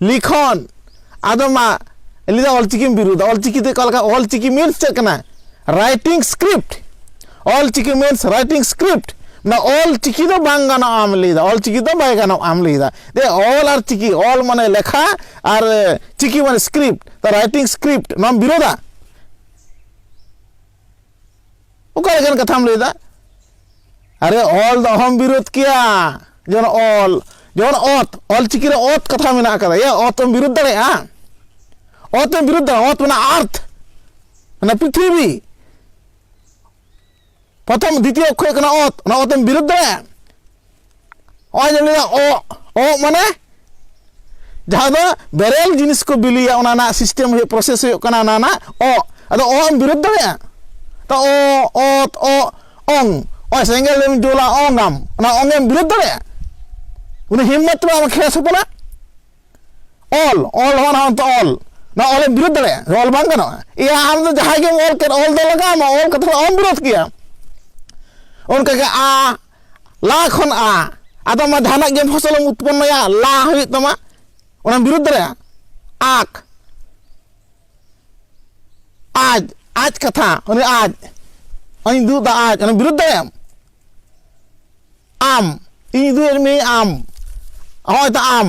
ᱞᱤᱠᱷᱚᱱ ᱟᱫᱚ ᱢᱟ ᱞᱟᱹᱭ ᱫᱟ ᱚᱞᱪᱤᱠᱤᱢ ᱵᱤᱨᱩᱫᱟ ᱚᱞᱪᱤᱠᱤ ᱫᱚ ᱚᱠᱟ ᱞᱮᱠᱟ ᱚᱞᱪᱤᱠᱤ ᱢᱤᱱᱥ ᱪᱮᱫ ᱠᱟᱱᱟ writing script Ol Chiki means writing script ᱢᱟᱱᱮ ᱚᱞᱪᱤᱠᱤ ᱫᱚ ᱵᱟᱝ ᱜᱟᱱᱚᱜᱼᱟ ᱟᱢ ᱞᱟᱹᱭᱫᱟ ᱚᱞᱪᱤᱠᱤ ᱫᱚ ᱵᱟᱭ ᱜᱟᱱᱚᱜᱼᱟ ᱟᱢ ᱞᱟᱹᱭᱫᱟ ᱫᱮ ᱚᱞ ᱟᱨ ᱪᱤᱠᱤ ᱚᱞ ᱢᱟᱱᱮ ᱞᱮᱠᱷᱟ ᱟᱨ ᱪᱤᱠᱤ ᱢᱟᱱᱮ ᱥᱠᱨᱤᱯᱴ ᱛᱚ ᱨᱟᱭᱴᱤᱝ ᱥᱠᱨᱤᱯᱴ ᱱᱚᱣᱟᱢ ᱵᱤᱨᱳᱫᱟ ᱚᱠᱟ ᱞᱮᱠᱟᱱ ᱠᱟᱛᱷᱟᱢ ᱞᱟᱹᱭᱫᱟ ᱟᱨᱮ ᱚᱞ ᱫᱚ ᱚᱦᱚᱢ ᱵᱤᱨᱳᱫ ᱠᱮᱭᱟ ᱡᱮᱢᱚᱱ ᱚᱞ ᱡᱮᱢᱚᱱ ᱚᱛ ᱚᱞ ᱪᱤᱠᱤ ᱨᱮ ᱚᱛ ᱠᱟᱛᱷᱟ ᱢᱮᱱᱟᱜ ᱟᱠᱟᱫᱟ ᱮ ᱚᱛ ᱮᱢ ᱵᱤᱨᱳᱫ ᱫᱟᱲᱮᱭᱟᱜᱼᱟ ᱚᱛ ᱮᱢ ᱵᱤᱨᱳᱫ ᱫᱟᱲᱮᱭᱟᱜᱼᱟ ᱚᱛ ᱢᱮᱱᱟᱜᱼᱟ ᱟᱨᱛᱷ ᱢᱟᱱᱮ ᱯᱨᱤᱛᱷᱤᱵᱤ ᱯᱨᱚᱛᱷᱚᱢ ᱫᱤᱛᱤᱭᱚ ᱚᱠᱠᱷᱚᱨ ᱦᱩᱭᱩᱜ ᱠᱟᱱᱟ ᱚᱛ ᱚᱱᱟ ᱚᱛ ᱮᱢ ᱵᱤᱨᱳᱫ ᱫᱟᱲᱮᱭᱟᱜᱼᱟ ᱱᱚᱜᱼᱚᱭ ᱡᱮ ᱞᱟᱹᱭᱟ ᱚᱜ ᱚᱜ ᱢᱟᱱᱮ ᱡᱟᱦᱟᱸ ᱫᱚ ᱵᱮᱨᱮᱞ ᱡᱤᱱᱤᱥ ᱠᱚ ᱵᱤᱞᱤᱭᱟ ᱚᱱᱟ ᱨᱮᱱᱟᱜ ᱥᱤᱥᱴᱮᱢ ᱦᱩᱭᱩᱜ ᱯᱨᱚᱥᱮᱥ ᱦᱩᱭᱩᱜ ᱠᱟᱱᱟ ᱚᱱᱟ ᱨᱮᱱᱟᱜ ᱚᱜ ᱟᱫᱚ ᱚᱜ ᱮᱢ ᱵᱤᱨᱳᱫ ᱫᱟᱲᱮᱭᱟᱜᱼᱟ ᱛᱚ ᱚ ᱚᱛ ᱚ ᱚᱝ ᱚᱭ ᱥᱮᱸᱜᱮᱞ ᱮᱢ ᱡᱳᱞᱟ ᱚᱝᱟᱢ ᱚᱱᱟ ᱚᱝ ᱮᱢ ᱵᱤᱨᱳᱫ ᱫᱟᱲᱮᱭᱟᱜᱼᱟ ᱩᱱᱤ ᱦᱤᱢᱢᱚᱛ ᱢᱟ ᱠᱷᱮᱥ ᱦᱚᱯᱚᱱᱟ ᱚᱞ ᱚᱞ ᱦᱚᱸ ᱱᱚᱣᱟ ᱛᱚ ᱚᱞ ᱱᱚᱣᱟ ᱚᱞ ᱮᱢ ᱵᱤᱨᱳᱫ ᱫᱟᱲᱮᱭᱟᱜᱼᱟ ᱚᱞ ᱵᱟᱝ ᱜᱟᱱᱚᱜᱼᱟ ᱤᱭᱟ ᱟᱢ ᱫᱚ ᱡᱟᱦᱟᱸᱭ ᱜᱮᱢ ᱚᱞ ᱠᱮᱫ ᱚᱞ ᱫᱚ ᱞᱟᱜᱟᱣ ᱟᱢᱟ ᱚᱞ ᱠᱟᱛᱮ ᱚᱞ ᱵᱤᱨᱳᱫ ᱠᱮᱭᱟ ᱚᱱᱠᱟᱜᱮ ᱟ ᱞᱟ ᱠᱷᱚᱱ ᱟ ᱟᱫᱚ ᱢᱟ ᱡᱟᱦᱟᱱᱟᱜ ᱜᱮ ᱯᱷᱚᱥᱚᱞᱮᱢ ᱩᱛᱯᱚᱱᱱᱚᱭᱟ ᱞᱟ ᱦᱩᱭᱩᱜ ᱛᱟᱢᱟ ᱚᱱᱟ ᱵᱤᱨᱩᱫᱷ ᱫᱟᱲᱮᱭᱟᱜᱼᱟ ᱟᱠ ᱟᱡ ᱟᱡ ᱠᱟᱛᱷᱟ ᱩᱱᱤ ᱟᱡ ᱤᱧ ᱫᱩᱜ ᱫᱟ ᱟᱡ ᱚᱱᱟ ᱵᱤᱨᱩᱫᱷ ᱫᱟᱲᱮᱭᱟᱜ ᱟᱢ ᱤᱧ ᱫᱩᱜ ᱢᱮ ᱟᱢ ᱦᱚᱸᱜᱼᱚᱭ ᱛᱚ ᱟᱢ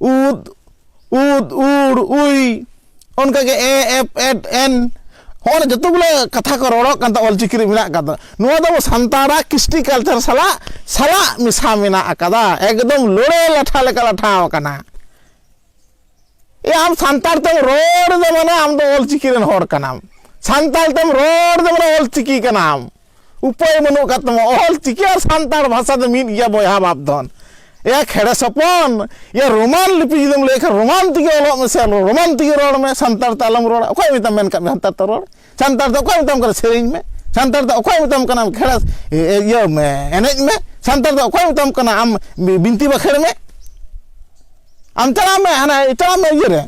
ᱩᱫ ᱩᱫ ᱩᱲ ᱩᱭ ᱚᱱᱠᱟᱜᱮ ᱮ ᱮᱯ ᱮᱰ ᱮᱱ ᱦᱚᱸᱜᱼᱚᱭ ᱡᱚᱛᱚ ᱜᱩᱞᱟᱹ ᱠᱟᱛᱷᱟ ᱠᱚ ᱨᱚᱲᱚᱜ ᱠᱟᱱ ᱛᱟᱵᱚᱱᱟ ᱚᱞᱪᱤᱠᱤ ᱨᱮ ᱢᱮᱱᱟᱜ ᱠᱟᱫᱟ ᱱᱚᱣᱟ ᱫᱚ ᱥᱟᱱᱛᱟᱲᱟᱜ ᱠᱨᱤᱥᱴᱤ ᱠᱟᱞᱪᱟᱨ ᱥᱟᱞᱟᱜ ᱥᱟᱞᱟᱜ ᱢᱮᱥᱟ ᱢᱮᱱᱟᱜ ᱟᱠᱟᱫᱟ ᱮᱠᱫᱚᱢ ᱞᱳᱲᱮ ᱞᱟᱴᱷᱟ ᱞᱮᱠᱟ ᱞᱟᱴᱷᱟᱣ ᱟᱠᱟᱱᱟ ᱮ ᱟᱢ ᱥᱟᱱᱛᱟᱲ ᱛᱮᱢ ᱨᱚᱲ ᱫᱚ ᱢᱟᱱᱮ ᱟᱢ ᱫᱚ ᱚᱞᱪᱤᱠᱤ ᱨᱮᱱ ᱦᱚᱲ ᱠᱟᱱᱟᱢ ᱥᱟᱱᱛᱟᱲ ᱛᱮᱢ ᱨᱚᱲ ᱫᱚ ᱢᱟᱱᱮ ᱚᱞᱪᱤᱠᱤ ᱠᱟᱱᱟᱢ ᱩᱯᱟᱹᱭ ᱵᱟᱹᱱᱩᱜ ᱟᱠᱟᱫ ᱛᱟᱢᱟ ᱚᱞ ᱪᱤᱠᱤ ᱟᱨ ᱥᱟᱱᱛᱟᱲ ᱵᱷᱟᱥᱟ ᱫᱚ ᱢᱤᱫ ᱜᱮᱭᱟ ᱵᱚᱭᱦᱟ ᱵᱟᱯ ᱫᱷᱚᱱ ᱮᱭᱟ ᱠᱷᱮᱲᱮ ᱥᱚᱯᱚᱱ ᱮᱭᱟ ᱨᱳᱢᱟᱱ ᱞᱤᱯᱤ ᱡᱩᱫᱤᱢ ᱞᱟᱹᱭ ᱠᱷᱟᱱ ᱨᱳᱢᱟᱱ ᱛᱮᱜᱮ ᱚᱞᱚᱜ ᱢᱮᱥᱮ ᱨᱳᱢᱟᱱ ᱛᱮᱜᱮ ᱨᱚᱲ ᱢᱮ ᱥᱟᱱᱛᱟᱲ ᱛᱮ ᱟᱞᱚᱢ ᱨᱚᱲᱟ ᱚᱠᱚᱭ ᱢᱮᱛᱟᱢ ᱢᱮᱱ ᱠᱟᱜ ᱢᱮ ᱥᱟᱱᱛᱟᱲ ᱛᱮ ᱨᱚᱲ ᱥᱟᱱᱛᱟᱲ ᱛᱮ ᱚᱠᱚᱭ ᱢᱮᱛᱟᱢ ᱠᱟᱱᱟ ᱥᱮᱨᱮᱧ ᱢᱮ ᱥᱟᱱᱛᱟᱲ ᱛᱮ ᱚᱠᱚᱭ ᱢᱮᱛᱟᱢ ᱠᱟᱱᱟ ᱠᱷᱮᱲᱮ ᱤᱭᱟᱹ ᱢᱮ ᱮᱱᱮᱡ ᱢᱮ ᱥᱟᱱᱛᱟᱲ ᱛᱮ ᱚᱠᱚᱭ ᱢᱮᱛᱟᱢ ᱠᱟᱱᱟ ᱟᱢ ᱵᱤᱱᱛᱤ ᱵᱟᱠᱷᱮᱲ ᱢᱮ ᱟᱢ ᱪᱟᱞᱟᱜ ᱢᱮ ᱦᱟᱱᱟ ᱪᱟᱞᱟᱜ ᱢᱮ ᱤᱭᱟᱹ ᱨᱮ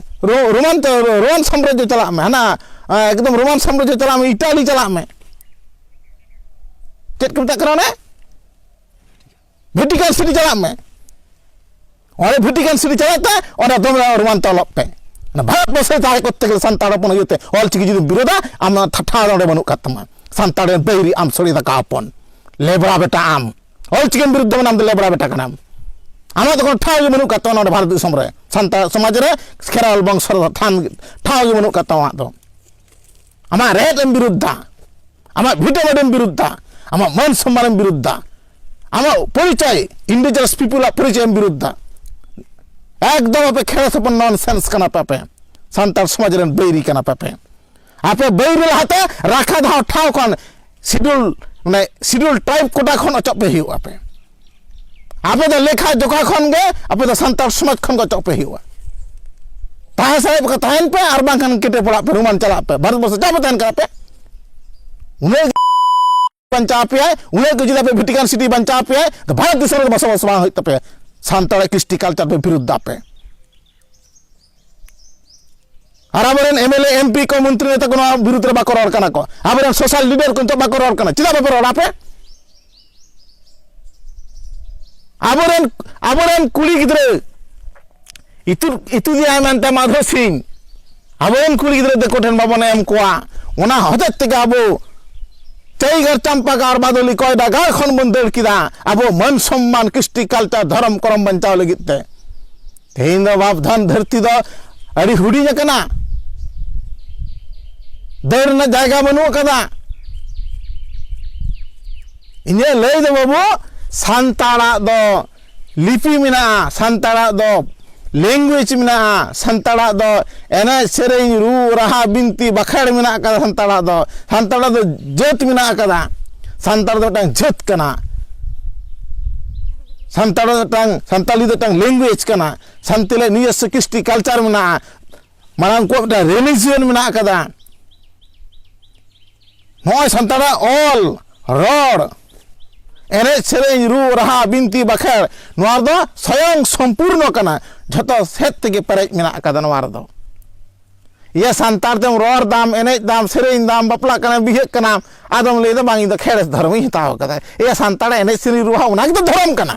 ᱨᱳᱢᱟᱱ ᱨᱳᱢᱟᱱ ᱥᱟᱢᱨᱟᱡᱽᱡᱚ ᱪᱟᱞᱟᱜ ᱢᱮ ᱦᱟᱱᱟ ᱮᱠᱫᱚᱢ ᱨᱳᱢᱟᱱ ᱥᱟᱢᱨᱟᱡᱽᱡᱚ ᱪᱟᱞᱟᱜ ᱢᱮ ᱤᱴᱟᱞᱤ ᱪᱟᱞᱟᱜ ᱢᱮ ᱪᱮᱫ ᱠᱚ ᱢᱮᱛᱟᱜ ᱠᱟᱱᱟ ᱚᱱᱮ ᱵᱷᱮᱴᱤᱠᱟᱱ ᱥᱤᱴᱤ ᱪᱟᱞᱟᱜ ᱢᱮ ᱚᱸᱰᱮ ᱵᱷᱮᱴᱤᱠᱟᱱ ᱥᱤᱴᱤ ᱪᱟᱞᱟᱜ ᱛᱮ ᱚᱸᱰᱮ ᱫᱚᱢᱮ ᱨᱳᱢᱟᱱ ᱛᱮ ᱚᱞᱚᱜ ᱯᱮ ᱵᱷᱟᱨᱚᱛ ᱵᱚᱨᱥᱚ ᱨᱮ ᱛᱟᱦᱮᱸ ᱠᱚᱨᱛᱮ ᱜᱮᱞᱮ ᱥᱟᱱᱛᱟᱲ ᱦᱚᱯᱚᱱ ᱤᱭᱟᱹᱛᱮ ᱚᱞ ᱪᱤᱠᱤ ᱡᱩᱫᱤ ᱵᱤᱨᱳᱫᱟ ᱟᱢ ᱴᱷᱟᱶ ᱚᱸᱰᱮ ᱵᱟᱹᱱᱩᱜ ᱠᱟᱜ ᱛᱟᱢᱟ ᱥᱟᱱᱛᱟᱲ ᱨᱮᱱ ᱵᱟᱹᱭᱨᱤ ᱟᱢ ᱥᱚᱲᱮ ᱫᱟᱠᱟ ᱦᱚᱯᱚᱱ ᱞᱮᱵᱽᱲᱟ ᱵᱮᱴᱟ ᱟᱢ ᱚᱞᱪᱤᱠᱤ ᱵᱤᱨᱩᱫᱽᱫᱷ ᱢᱟᱱᱟᱢ ᱫᱚ ᱞᱮᱵᱽᱲᱟ ᱵᱮᱴᱟ ᱠᱟᱱᱟᱢ ᱟᱢᱟᱜ ᱫᱚ ᱠᱳᱱᱳ ᱴᱷᱟᱶ ᱜᱮ ᱵᱟᱹᱱᱩᱜ ᱠᱟᱜ ᱛᱟᱢᱟ ᱱᱚᱰᱮ ᱵᱷᱟᱨᱚᱛ ᱫᱤᱥᱚᱢ ᱨᱮ ᱥᱟᱱᱛᱟᱲ ᱥᱚᱢᱟᱡᱽ ᱨᱮ ᱠᱷᱮᱨᱣᱟᱞ ᱵᱚᱝᱥᱚ ᱨᱮ ᱛᱷᱟᱱ ᱴᱷᱟᱶ ᱜᱮ ᱵᱟᱹᱱᱩᱜ ᱠᱟᱜ ᱛᱟᱢᱟ ᱟᱢᱟᱜ ᱫᱚ ᱟᱢᱟᱜ ᱨᱮᱦᱮᱫ ᱮᱢ ᱵᱤᱨᱩᱫᱽᱫᱷᱟ ᱟᱢᱟᱜ ᱵᱷᱤᱴᱟᱹ ᱵᱟᱹᱰᱮᱢ ᱵᱤᱨᱩᱫᱽᱫᱷᱟ ᱟᱢᱟᱜ ᱢᱟᱹᱱ ᱥᱚᱢᱢᱟᱱ ᱮᱢ ᱵᱤᱨᱩᱫᱽᱫᱷᱟ ᱟᱢᱟᱜ ᱯᱚᱨᱤᱪᱚᱭ ᱤᱱᱰᱤᱡᱤᱱᱟᱥ ᱯᱤᱯᱩᱞ ᱟᱜ ᱯᱚᱨᱤᱪᱚᱭ ᱮᱢ ᱵᱤᱨᱩᱫᱽᱫᱷᱟ ᱮᱠᱫᱚᱢ ᱟᱯᱮ ᱠᱷᱮᱨᱣᱟᱞ ᱥᱚᱯᱚᱱ ᱱᱚᱱ ᱥᱮᱱᱥ ᱠᱟᱱᱟ ᱯᱮ ᱟᱯᱮ ᱥᱟᱱᱛᱟᱲ ᱥᱚᱢᱟᱡᱽ ᱨᱮᱱ ᱵᱟᱹᱭᱨᱤ ᱠᱟᱱᱟ ᱯᱮ ᱟᱯᱮ ᱟᱯᱮ ᱵᱟᱹᱭ ᱨᱮ ᱞᱟᱦᱟᱛᱮ ᱨᱟᱠᱷᱟ ᱫᱷᱟᱣ ᱴᱷᱟᱶ ᱠᱷᱚᱱ ᱥᱤᱰᱩᱞ ᱢᱟᱱᱮ ᱥᱤᱰᱩᱞ ᱴᱨᱟᱭᱤᱵ ᱠᱚᱴᱟ ᱠᱷᱚᱱ ᱚᱪᱚᱜ ᱯᱮ ᱦᱩᱭᱩᱜᱼᱟ ᱟᱯᱮ ᱟᱯᱮ ᱫᱚ ᱞᱮᱠᱷᱟ ᱡᱚᱠᱷᱟ ᱠᱷᱚᱱ ᱜᱮ ᱟᱯᱮ ᱫᱚ ᱥᱟᱱᱛᱟᱲ ᱥᱚᱢᱟᱡᱽ ᱠᱷᱚᱱ ᱜᱮ ᱚᱪᱚᱜ ᱯᱮ ᱦᱩᱭᱩᱜᱼᱟ ᱛᱟᱦᱮᱸ ᱥᱟᱨᱮᱡ ᱠᱚ ᱛᱟᱦᱮᱱ ᱯᱮ ᱟᱨ ᱵᱟᱝᱠᱷᱟᱱ ᱠᱮᱴᱮ ᱯᱚᱲᱟᱜ ᱯᱮ ᱨᱩᱢᱟᱱ ᱪᱟᱞᱟᱜ ᱯᱮ ᱵᱷᱟᱨᱚᱛ ᱵᱚᱨᱥᱚ ᱪᱟᱯᱮ ᱛᱟᱦᱮᱱ ᱠᱟᱱᱟ ᱯᱮ ᱩᱱᱟᱹᱜ ᱵᱟᱧᱪᱟᱣ ᱟᱯᱮᱭᱟᱭ ᱩᱱᱟᱹᱜ ᱜᱮ ᱡᱩᱫᱤ ᱟᱯᱮ ᱵᱷᱮᱴᱤᱠᱟᱱ ᱥᱤᱴᱤ ᱵᱟᱧᱪᱟᱣ ᱟᱯᱮᱭᱟᱭ ᱛᱚ ᱵᱷᱟᱨᱚᱛ ᱫᱤᱥᱚᱢ ᱨᱮ ᱵᱚᱥᱚᱵᱟᱥ ᱵᱟᱝ ᱦᱩᱭᱩᱜ ᱛᱟᱯᱮᱭᱟ ᱥᱟᱱᱛᱟᱲᱟᱜ ᱠᱨᱤᱥᱴᱤ ᱠᱟᱞᱪᱟᱨ ᱯᱮ ᱵᱤᱨᱩᱫᱽ ᱫᱟᱯᱮ ᱟᱨ ᱟᱵᱚᱨᱮᱱ ᱮᱢᱮᱞᱮ ᱮᱢᱯᱤ ᱠᱚ ᱢᱚᱱᱛᱨᱤ ᱱᱮᱛᱟ ᱠᱚ ᱱᱚᱣᱟ ᱵᱤᱨᱩᱫᱽ ᱨᱮ ᱵᱟᱠᱚ ᱨᱚᱲ ᱠᱟᱱᱟ ᱠᱚ ᱟᱵᱚᱨᱮᱱ ᱥᱳᱥᱟᱞ ᱞᱤᱰᱟᱨ ᱠᱚ ᱱᱤᱛᱚᱜ ᱵᱟᱠᱚ ᱨᱚᱲ ᱠᱟᱱᱟ ᱪᱮᱫᱟᱜ ᱵᱟᱯᱮ ᱨᱚᱲᱟ ᱯᱮ ᱟᱵᱚᱨᱮᱱ ᱟᱵᱚᱨᱮᱱ ᱠᱩᱲᱤ ᱜᱤᱫᱽᱨᱟᱹ ᱤᱛᱩᱫ ᱤᱛᱩᱫᱮᱭᱟᱭ ᱢᱮᱱᱛᱮ ᱢᱟᱫᱷᱩᱨ ᱥᱤᱝ ᱟᱵᱚ ᱨᱮᱱ ᱠᱩᱲᱤ ᱜᱤᱫᱽᱨᱟᱹ ᱫᱤᱠᱩ ᱴᱷᱮᱱ ᱵᱟᱵᱚᱱ ᱮᱢ ᱠᱚᱣᱟ ᱚᱱᱟ ᱦᱚᱛᱮᱡ ᱛᱮᱜᱮ ᱟᱵᱚ ᱪᱟᱹᱭᱜᱟᱨ ᱪᱟᱢᱯᱟᱜᱟᱨ ᱵᱟᱫᱚᱞᱤ ᱠᱚᱭᱰᱟ ᱜᱟᱲ ᱠᱷᱚᱱ ᱵᱚᱱ ᱫᱟᱹᱲ ᱠᱮᱫᱟ ᱟᱵᱚ ᱢᱟᱹᱱ ᱥᱚᱢᱢᱟᱱ ᱠᱨᱤᱥᱴᱤ ᱠᱟᱞᱪᱟᱨ ᱫᱷᱚᱨᱚᱢ ᱠᱚᱨᱚᱢ ᱵᱟᱧᱪᱟᱣ ᱞᱟᱹᱜᱤᱫ ᱛᱮ ᱛᱮᱦᱮᱧ ᱫᱚ ᱵᱟᱯᱫᱷᱟᱱ ᱫᱷᱟᱹᱨᱛᱤ ᱫᱚ ᱟᱹᱰᱤ ᱦᱩᱰᱤᱧ ᱟᱠᱟᱱᱟ ᱫᱟᱹᱲ ᱨᱮᱱᱟᱜ ᱡᱟᱭᱜᱟ ᱵᱟᱹᱱᱩᱜ ᱟᱠᱟᱫᱟ ᱤᱧᱟᱹᱜ ᱞᱟᱹᱭ ᱫᱚ ᱵᱟᱹᱵᱩ ᱥᱟᱱᱛᱟᱲᱟᱜ ᱫᱚ ᱞᱤᱯᱤ ᱢᱮᱱᱟᱜᱼᱟ ᱥᱟᱱᱛᱟᱲᱟᱜ ᱫᱚ ᱞᱮᱝᱜᱩᱭᱮᱡᱽ ᱢᱮᱱᱟᱜᱼᱟ ᱥᱟᱱᱛᱟᱲᱟᱜ ᱫᱚ ᱮᱱᱮᱡ ᱥᱮᱨᱮᱧ ᱨᱩ ᱨᱟᱦᱟ ᱵᱤᱱᱛᱤ ᱵᱟᱸᱠᱷᱮᱲ ᱢᱮᱱᱟᱜ ᱠᱟᱫᱟ ᱥᱟᱱᱛᱟᱲᱟᱜ ᱫᱚ ᱥᱟᱱᱛᱟᱲᱟᱜ ᱫᱚ ᱡᱟᱹᱛ ᱢᱮᱱᱟᱜ ᱠᱟᱫᱟ ᱥᱟᱱᱛᱟᱲ ᱫᱚ ᱢᱤᱫᱴᱟᱝ ᱡᱟᱹᱛ ᱠᱟᱱᱟ ᱥᱟᱱᱛᱟᱲ ᱫᱚ ᱢᱤᱫᱴᱟᱝ ᱥᱟᱱᱛᱟᱲᱤ ᱫᱚ ᱢᱤᱫᱴᱟᱝ ᱞᱮᱝᱜᱩᱭᱮᱡᱽ ᱠᱟᱱᱟ ᱥᱟᱱᱛᱟᱲᱤ ᱱᱤᱡᱚᱥᱥᱚ ᱠᱨᱤᱥᱴᱤ ᱠᱟᱞᱪᱟᱨ ᱢᱮᱱᱟᱜᱼᱟ ᱢᱟᱱᱮ ᱩᱱᱠᱩᱣᱟᱜ ᱢᱤᱫᱴᱟᱝ ᱨᱤᱞᱤᱡᱤᱭᱚᱱ ᱢᱮᱱᱟᱜ ᱟᱠᱟᱫᱟ ᱱᱚᱜᱼᱚᱭ ᱥᱟᱱᱛᱟᱲᱟᱜ ᱚᱞ ᱨᱚᱲ ᱮᱱᱮᱡ ᱥᱮᱨᱮᱧ ᱨᱩ ᱨᱟᱦᱟ ᱵᱤᱱᱛᱤ ᱵᱟᱠᱷᱮᱲ ᱱᱚᱣᱟ ᱫᱚ ᱥᱚᱭᱚᱝ ᱥᱚᱢᱯᱩᱨᱱᱚ ᱠᱟᱱᱟ ᱡᱷᱚᱛᱚ ᱥᱮᱫ ᱛᱮᱜᱮ ᱯᱮᱨᱮᱡ ᱢᱮᱱᱟᱜ ᱟᱠᱟᱫᱟ ᱱᱚᱣᱟ ᱨᱮᱫᱚ ᱤᱭᱟᱹ ᱥᱟᱱᱛᱟᱲ ᱛᱮᱢ ᱨᱚᱲ ᱫᱟᱢ ᱮᱱᱮᱡ ᱫᱟᱢ ᱥᱮᱨᱮᱧ ᱫᱟᱢ ᱵᱟᱯᱞᱟᱜ ᱠᱟᱱᱟᱢ ᱵᱤᱦᱟᱹᱜ ᱠᱟᱱᱟᱢ ᱟᱫᱚᱢ ᱞᱟᱹᱭᱫᱟ ᱵᱟᱝ ᱤᱧ ᱫᱚ ᱠᱷᱮᱲᱮᱥ ᱫᱷᱚᱨᱚᱢᱤᱧ ᱦᱟᱛᱟᱣ ᱠᱟᱫᱟ ᱤᱭᱟᱹ ᱥᱟᱱᱛᱟᱲ ᱮᱱᱮᱡ ᱥᱮᱨᱮᱧ ᱨᱩ ᱨᱟᱦᱟ ᱚᱱᱟ ᱜᱮᱛᱚ ᱫᱷᱚᱨᱚᱢ ᱠᱟᱱᱟ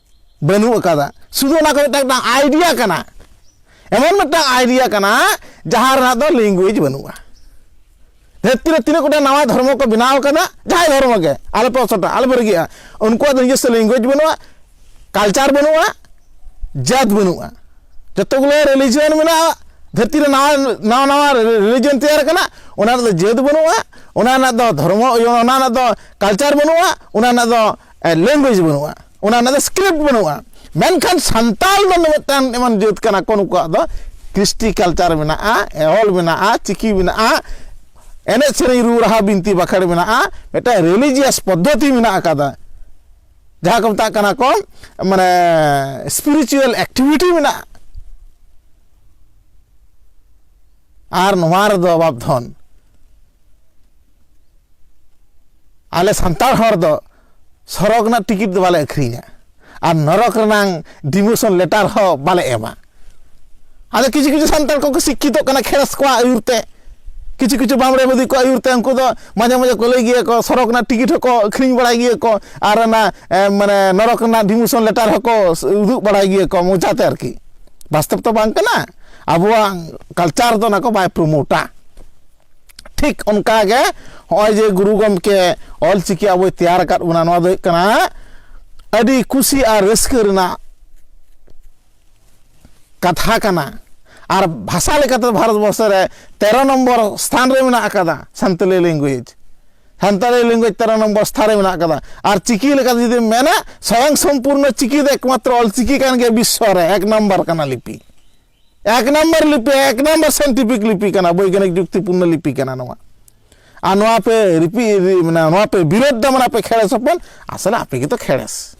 ᱵᱟᱹᱱᱩᱜ ᱟᱠᱟᱫᱟ ᱥᱩᱫᱷᱩ ᱚᱱᱟ ᱠᱚ ᱢᱤᱫᱴᱟᱝ ᱢᱤᱫᱴᱟᱝ ᱟᱭᱰᱤᱭᱟ ᱠᱟᱱᱟ ᱮᱢᱚᱱ ᱢᱤᱫᱴᱟᱝ ᱟᱭᱰᱤᱭᱟ ᱠᱟᱱᱟ ᱡᱟᱦᱟᱸ ᱨᱮᱱᱟᱜ ᱫᱚ ᱞᱮᱝᱜᱩᱭᱮᱡᱽ ᱵᱟᱹᱱᱩᱜᱼᱟ ᱫᱷᱟᱹᱨᱛᱤ ᱨᱮ ᱛᱤᱱᱟᱹᱜ ᱜᱚᱴᱟᱝ ᱱᱟᱣᱟ ᱫᱷᱚᱨᱢᱚ ᱠᱚ ᱵᱮᱱᱟᱣ ᱟᱠᱟᱫᱟ ᱡᱟᱦᱟᱸᱭ ᱫᱷᱚᱨᱢᱚ ᱜᱮ ᱟᱞᱮ ᱯᱮ ᱚᱥᱚᱴᱟ ᱟᱞᱮ ᱯᱮ ᱨᱟᱹᱜᱤᱜᱼᱟ ᱩᱱᱠᱩᱣᱟᱜ ᱫᱚ ᱱᱤᱡᱮᱥᱥᱚ ᱞᱮᱝᱜᱩᱭᱮᱡᱽ ᱵᱟᱹᱱᱩᱜᱼᱟ ᱠᱟᱞᱪᱟᱨ ᱵᱟᱹᱱᱩᱜᱼᱟ ᱡᱟᱹᱛ ᱵᱟᱹᱱᱩᱜᱼᱟ ᱡᱚᱛᱚᱜᱩᱞᱳ ᱨᱤᱞᱤᱡᱤᱭᱚᱱ ᱢᱮᱱᱟᱜᱼᱟ ᱫᱷᱟᱹᱨᱛᱤ ᱨᱮ ᱱᱟᱣᱟ ᱱᱟᱣᱟ ᱱᱟᱣᱟ ᱨᱤᱞᱤᱡᱤᱭᱚᱱ ᱛᱮᱭᱟᱨ ᱟᱠᱟᱱᱟ ᱚᱱᱟ ᱨᱮᱫᱚ ᱡᱟᱹᱛ ᱵᱟᱹᱱᱩᱜᱼᱟ ᱚᱱᱟ ᱨᱮᱱᱟᱜ ᱫᱚ ᱫᱷᱚᱨᱢᱚ ᱚᱱᱟ ᱨᱮᱱᱟᱜ ᱫᱚ ᱠᱟᱞᱪᱟᱨ ᱵᱟᱹᱱᱩᱜᱼᱟ ᱚᱱᱟ ᱨᱮᱱᱟᱜ ᱫᱚ ᱞᱮᱝᱜᱩᱭᱮᱡᱽ ᱵᱟᱹᱱᱩᱜᱼᱟ ᱚᱱᱟ ᱨᱮᱱᱟᱜ ᱫᱚ ᱥᱠᱨᱤᱯᱴ ᱵᱟᱹᱱᱩᱜᱼᱟ ᱢᱮᱱᱠᱷᱟᱱ ᱥᱟᱱᱛᱟᱲ ᱫᱚ ᱢᱤᱫᱴᱟᱝ ᱮᱢᱚᱱ ᱡᱟᱹᱛ ᱠᱟᱱᱟ ᱠᱚ ᱱᱩᱠᱩᱣᱟᱜ ᱫᱚ ᱠᱨᱤᱥᱴᱤ ᱠᱟᱞᱪᱟᱨ ᱢᱮᱱᱟᱜᱼᱟ ᱚᱞ ᱢᱮᱱᱟᱜᱼᱟ ᱪᱤᱠᱤ ᱢᱮᱱᱟᱜᱼᱟ ᱮᱱᱮᱡ ᱥᱮᱨᱮᱧ ᱨᱩ ᱨᱟᱦᱟ ᱵᱤᱱᱛᱤ ᱵᱟᱠᱷᱮᱲ ᱢᱮᱱᱟᱜᱼᱟ ᱢᱤᱫᱴᱟᱝ ᱨᱤᱞᱤᱡᱤᱭᱟᱥ ᱯᱚᱫᱽᱫᱷᱚᱛᱤ ᱢᱮᱱᱟᱜ ᱟᱠᱟᱫᱟ ᱡᱟᱦᱟᱸ ᱠᱚ ᱢᱮᱛᱟᱜ ᱠᱟᱱᱟ ᱠᱚ ᱢᱟᱱᱮ ᱥᱯᱤᱨᱤᱪᱩᱣᱟᱞ ᱮᱠᱴᱤᱵᱷᱤᱴᱤ ᱢᱮᱱᱟᱜᱼᱟ ᱟᱨ ᱱᱚᱣᱟ ᱨᱮᱫᱚ ᱵᱟᱯᱫᱷᱚᱱ ᱟᱞᱮ ᱥᱟᱱᱛᱟᱲ ᱦᱚᱲ ᱫᱚ ᱥᱚᱨᱚᱜᱽ ᱨᱮᱱᱟᱜ ᱴᱤᱠᱤᱴ ᱫᱚ ᱵᱟᱞᱮ ᱟᱹᱠᱷᱨᱤᱧᱟ ᱟᱨ ᱱᱚᱨᱚᱠ ᱨᱮᱱᱟᱝ ᱰᱤᱢᱳᱥᱚᱱ ᱞᱮᱴᱟᱨ ᱦᱚᱸ ᱵᱟᱞᱮ ᱮᱢᱟ ᱟᱫᱚ ᱠᱤᱪᱷᱩ ᱠᱤᱪᱷᱩ ᱥᱟᱱᱛᱟᱲ ᱠᱚᱠᱚ ᱥᱤᱠᱠᱷᱤᱛᱚᱜ ᱠᱟᱱᱟ ᱠᱷᱮᱨᱮᱥ ᱠᱚᱣᱟᱜ ᱟᱹᱭᱩᱨ ᱛᱮ ᱠᱤᱪᱷᱩ ᱠᱤᱪᱷᱩ ᱵᱟᱢᱲᱮ ᱵᱩᱫᱷᱤ ᱠᱚᱣᱟᱜ ᱟᱹᱭᱩᱨ ᱛᱮ ᱩᱱᱠᱩ ᱫᱚ ᱢᱟᱡᱷᱮ ᱢᱟᱡᱷᱮ ᱠᱚ ᱞᱟᱹᱭ ᱜᱮᱭᱟ ᱠᱚ ᱥᱚᱨᱚᱜᱽ ᱨᱮᱱᱟᱜ ᱴᱤᱠᱤᱴ ᱦᱚᱸᱠᱚ ᱟᱹᱠᱷᱨᱤᱧ ᱵᱟᱲᱟᱭ ᱜᱮᱭᱟ ᱠᱚ ᱟᱨ ᱚᱱᱟ ᱢᱟᱱᱮ ᱱᱚᱨᱚᱠ ᱨᱮᱱᱟᱜ ᱰᱤᱢᱳᱥᱚᱱ ᱞᱮᱴᱟᱨ ᱦᱚᱸᱠᱚ ᱩᱫᱩᱜ ᱵᱟᱲᱟᱭ ᱜᱮᱭᱟ ᱠᱚ ᱢᱚᱡᱟᱛᱮ ᱟᱨᱠᱤ ᱵᱟᱥᱛᱚᱵ ᱛᱚ ᱵᱟᱝ ᱠᱟᱱᱟ ᱟᱵᱚᱣᱟᱜ ᱠᱟᱞᱪᱟᱨ ᱫᱚ ᱚᱱᱟ ᱠᱚ ᱵᱟᱭ ᱯᱨᱳᱢᱳᱴᱟ ᱴᱷᱤᱠ ᱚᱱᱠᱟᱜᱮ ᱦᱚᱸᱜᱼᱚᱭ ᱡᱮ ᱜᱩᱨᱩ ᱜᱚᱢᱠᱮ ᱚᱞ ᱪᱤᱠᱤ ᱟᱵᱚᱭ ᱛᱮᱭᱟᱨ ᱟᱠᱟᱫ ᱵᱚᱱᱟ ᱱᱚᱣᱟ ᱫᱚ ᱦᱩᱭᱩᱜ ᱠᱟᱱᱟ ᱟᱹᱰᱤ ᱠᱩᱥᱤ ᱟᱨ ᱨᱟᱹᱥᱠᱟᱹ ᱨᱮᱱᱟᱜ ᱠᱟᱛᱷᱟ ᱠᱟᱱᱟ ᱟᱨ ᱵᱷᱟᱥᱟ ᱞᱮᱠᱟᱛᱮ ᱵᱷᱟᱨᱚᱛ ᱵᱚᱨᱥᱚ ᱨᱮ ᱛᱮᱨᱚ ᱱᱚᱢᱵᱚᱨ ᱥᱛᱷᱟᱱ ᱨᱮ ᱢᱮᱱᱟᱜ ᱟᱠᱟᱫᱟ ᱥᱟᱱᱛᱟᱞᱤ ᱞᱮᱝᱜᱩᱭᱮᱡᱽ ᱥᱟᱱᱛᱟᱲᱤ ᱞᱮᱝᱜᱩᱭᱮᱡᱽ ᱛᱮᱨᱚ ᱱᱚᱢᱵᱚᱨ ᱥᱛᱷᱟᱱ ᱨᱮ ᱢᱮᱱᱟᱜ ᱟᱠᱟᱫᱟ ᱟᱨ ᱪᱤᱠᱤ ᱞᱮᱠᱟᱛᱮ ᱡᱩᱫᱤᱢ ᱢᱮᱱᱟ ᱥᱚᱭᱚᱝ ᱥᱚᱢᱯᱩᱨᱱᱚ ᱪᱤᱠᱤ ᱫᱚ ᱮᱠᱢᱟᱛᱨᱚ ᱚᱞ ᱪᱤᱠᱤ ᱠᱟᱱ ᱜᱮᱭᱟ ᱵᱤᱥᱥᱚ ᱨᱮ ᱮᱠ ᱱᱚᱢᱵᱚᱨ ᱠᱟᱱᱟ ᱞᱤᱯᱤ ᱮᱠ ᱱᱟᱢᱵᱟᱨ ᱞᱤᱯᱤ ᱮᱠ ᱱᱟᱢᱵᱟᱨ ᱥᱟᱭᱮᱱᱴᱤᱯᱷᱤᱠ ᱞᱤᱯᱤ ᱠᱟᱱᱟ ᱵᱳᱭᱜᱟᱱᱤᱠ ᱡᱩᱠᱛᱤᱯᱩᱨᱱᱚ ᱞᱤᱯᱤ ᱠᱟᱱᱟ ᱱᱚᱣᱟ ᱟᱨ ᱱᱚᱣᱟ ᱯᱮ ᱨᱤᱯᱤ ᱢᱟᱱᱮ ᱱᱚᱣᱟ ᱯᱮ ᱵᱤᱨᱳᱫ ᱫᱟ ᱢᱟᱱᱮ ᱟᱯᱮ ᱠᱷᱮᱲᱮᱥ ᱦᱚᱯᱚᱱ ᱟᱥᱚᱞᱮ ᱟᱯᱮ ᱜᱮᱛᱚ ᱠᱷᱮᱲᱮᱥ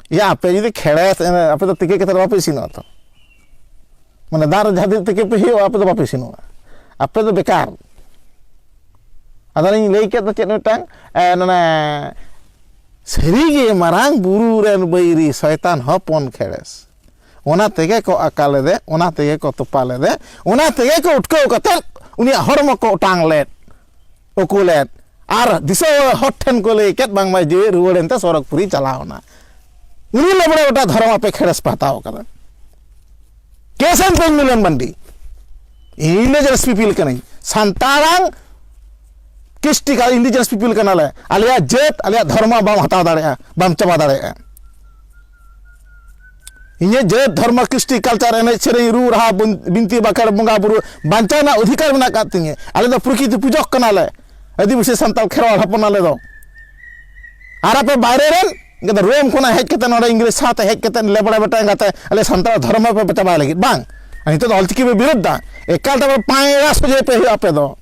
ᱭᱟ ᱟᱯᱮ ᱡᱩᱫᱤ ᱠᱷᱮᱲᱮᱥ ᱟᱯᱮ ᱫᱚ ᱛᱤᱠᱤ ᱠᱟᱛᱮ ᱵᱟᱯᱮ ᱤᱥᱤᱱᱚᱜᱼᱟ ᱛᱚ ᱢᱟᱱᱮ ᱫᱟᱜ ᱨᱮ ᱡᱟᱦᱟᱸ ᱛᱤᱱᱟᱹᱜ ᱛᱤᱠᱤ ᱯᱮ ᱦᱩᱭᱩᱜᱼᱟ ᱟᱯᱮ ᱫᱚ ᱵᱟᱯᱮ ᱤᱥᱤᱱᱚᱜᱼᱟ ᱟᱯᱮ ᱫᱚ ᱵᱮᱠᱟᱨ ᱟᱫᱚᱞᱤᱧ ᱞᱟᱹᱭ ᱠᱮᱫ ᱫᱚ ᱪᱮᱫ ᱢᱤᱫᱴᱟᱝ ᱚᱱᱮ ᱥᱟᱹᱨᱤᱜᱮ ᱢᱟᱨᱟᱝ ᱵᱩᱨᱩ ᱨᱮᱱ ᱵᱟᱹᱭᱨᱤ ᱥᱚᱭᱛᱟᱱ ᱦᱚᱯᱚᱱ ᱠᱷᱮᱲᱮᱥ ᱚᱱᱟ ᱛᱮᱜᱮ ᱠᱚ ᱟᱠᱟ ᱞᱮᱫᱮ ᱚᱱᱟ ᱛᱮᱜᱮ ᱠᱚ ᱛᱚᱯᱟ ᱞᱮᱫᱮ ᱚᱱᱟ ᱛᱮᱜᱮ ᱠᱚ ᱩᱴᱠᱟᱹᱣ ᱠᱟᱛᱮ ᱩᱱᱤᱭᱟᱜ ᱦᱚᱲᱢᱚ ᱠᱚ ᱚᱴᱟᱝ ᱞᱮᱫ ᱩᱠᱩ ᱞᱮᱫ ᱟᱨ ᱫᱤᱥᱟᱹ ᱦᱚᱲ ᱴᱷᱮᱱ ᱠᱚ ᱞᱟᱹᱭ ᱠᱮᱫ ᱵᱟᱝᱢᱟ ᱡᱤᱣᱤ ᱨᱩᱣᱟᱹᱲ ᱮᱱᱛᱮ ᱥᱚᱨᱚᱜᱽᱯᱩᱨᱤ ᱪᱟᱞᱟᱣᱱᱟ ᱩᱱᱤ ᱞᱮᱵᱲᱮ ᱜᱚᱴᱟ ᱫᱷᱚᱨᱚᱢ ᱟᱯᱮ ᱠᱷᱮᱲᱮᱥ ᱯᱮ ᱦᱟᱛᱟᱣ ᱠᱟᱫᱟ ᱠᱮᱥᱮᱱ ᱛᱮᱧ ᱢᱤᱞᱚᱱ ᱢᱟᱱᱰᱤ ᱤᱱᱰᱤᱡᱮᱱᱟᱥ ᱯᱤᱯᱤᱞ ᱠᱟᱹᱱᱟᱹᱧ ᱥᱟᱱᱛᱟᱲᱟᱝ ᱠᱤᱥᱴᱤ ᱠᱟ ᱤᱱᱰᱤᱡᱮᱱᱟᱥ ᱯᱤᱯᱤᱞ ᱠᱟᱱᱟᱞᱮ ᱟᱞᱮᱭᱟᱜ ᱡᱟᱹᱛ ᱟᱞᱮᱭᱟᱜ ᱫᱷᱚᱨᱢᱚ ᱵᱟᱢ ᱦᱟᱛᱟᱣ ᱫᱟᱲᱮᱭᱟᱜᱼᱟ ᱵᱟᱢ ᱪᱟᱵᱟ ᱫᱟᱲᱮᱭᱟᱜᱼᱟ ᱤᱧᱟᱹᱜ ᱡᱟᱹᱛ ᱫᱷᱚᱨᱢᱚ ᱠᱨᱤᱥᱴᱤ ᱠᱟᱞᱪᱟᱨ ᱮᱱᱮᱡ ᱥᱮᱨᱮᱧ ᱨᱩ ᱨᱟᱦᱟ ᱵᱤᱱᱛᱤ ᱵᱟᱠᱷᱮᱲ ᱵᱚᱸᱜᱟ ᱵᱩᱨᱩ ᱵᱟᱧᱪᱟᱣ ᱨᱮᱱᱟᱜ ᱚᱫᱷᱤᱠᱟᱨ ᱢᱮᱱᱟᱜ ᱟᱠᱟᱫ ᱛᱤᱧᱟᱹ ᱟᱞᱮ ᱫᱚ ᱯᱨᱚᱠᱤᱛᱤ ᱯᱩᱡᱚᱠ ᱠᱟᱱᱟᱞᱮ ᱟᱹᱫᱤᱵᱟᱹᱥᱤ ᱥᱟᱱᱛᱟᱲ ᱠᱷᱮᱨᱣᱟᱞ ᱦᱚᱯᱚᱱ ᱟᱞᱮ ᱫᱚ ᱟᱨ ᱟᱯᱮ ᱵᱟᱭᱨᱮ ᱨᱮᱱ ᱠᱤᱱᱛᱩ ᱨᱳᱢ ᱠᱷᱚᱱᱟᱜ ᱦᱮᱡ ᱠᱟᱛᱮ ᱱᱚᱰᱮ ᱤᱝᱨᱮᱡᱽ ᱥᱟᱶᱛᱮ ᱦᱮᱡ ᱠᱟᱛᱮ ᱞᱮᱵᱲᱟ ᱵᱮᱴᱟ ᱮᱸᱜᱟᱛᱮ ᱟᱞᱮ ᱥᱟᱱᱛᱟᱲ ᱫᱷᱚᱨᱚᱢ ᱯᱮ ᱪᱟᱵᱟᱭ ᱞᱟᱹᱜᱤᱫ ᱵᱟᱝ ᱱᱤᱛᱚᱜ ᱫᱚ ᱚᱞᱪᱤᱠᱤ ᱯᱮ ᱵᱤᱨᱩᱫᱷᱟ ᱮᱠᱟᱞ ᱛᱮ ᱯᱟᱭᱨᱟ ᱥᱚᱡᱷᱮ ᱯᱮ ᱦᱩᱭᱩᱜᱼᱟ ᱟᱯᱮ ᱫᱚ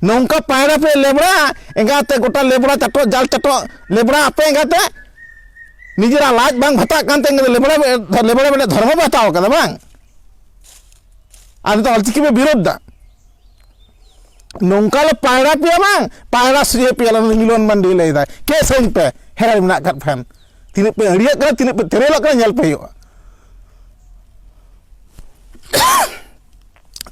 ᱱᱚᱝᱠᱟ ᱯᱟᱭᱨᱟ ᱯᱮ ᱞᱮᱵᱲᱟ ᱮᱸᱜᱟᱛᱮ ᱜᱚᱴᱟ ᱞᱮᱵᱲᱟ ᱪᱟᱴᱚᱜ ᱡᱟᱞ ᱪᱟᱴᱚᱜ ᱞᱮᱵᱲᱟ ᱟᱯᱮ ᱮᱸᱜᱟᱛᱮ ᱱᱤᱡᱮᱨᱟᱜ ᱞᱟᱡ ᱵᱟᱝ ᱵᱷᱟᱛᱟᱜ ᱠᱟᱱ ᱛᱮ ᱞᱮᱵᱲᱟ ᱞᱮᱵᱲᱟ ᱵᱮᱲᱟ ᱫᱷᱚᱨᱢᱚ ᱯᱮ ᱦᱟᱛᱟᱣ ᱠᱟᱫᱟ ᱵᱟᱝ ᱟᱨ ᱱᱤᱛᱚᱜ ᱚᱞᱪᱤᱠᱤ ᱯᱮ ᱵᱤᱨᱳᱫᱷ ᱫᱟ ᱱᱚᱝᱠᱟ ᱞᱮ ᱯᱟᱭᱨᱟ ᱯᱮᱭᱟ ᱵᱟᱝ ᱯᱟᱭᱨᱟ ᱥᱩᱭᱮ ᱯᱮᱭᱟ ᱞᱮ ᱢᱤᱞᱚᱱ ᱢᱟᱱᱰᱤ ᱞᱟᱹᱭᱫᱟᱭ ᱠᱮ ᱥᱟᱹᱧ ᱯᱮ ᱦᱮᱲᱮ ᱢᱮᱱᱟᱜ ᱠᱟᱫ ᱯᱷᱮᱱ ᱛᱤᱱᱟᱹᱜ ᱯᱮ ᱟᱹᱲᱤᱭᱟᱜ ᱠᱟᱱᱟ ᱛᱤᱱᱟᱹᱜ ᱯᱮ ᱛᱮᱨᱮᱞᱚᱜ ᱠᱟᱱᱟ ᱧᱮᱞ ᱯᱮ ᱦᱩᱭᱩᱜᱼᱟ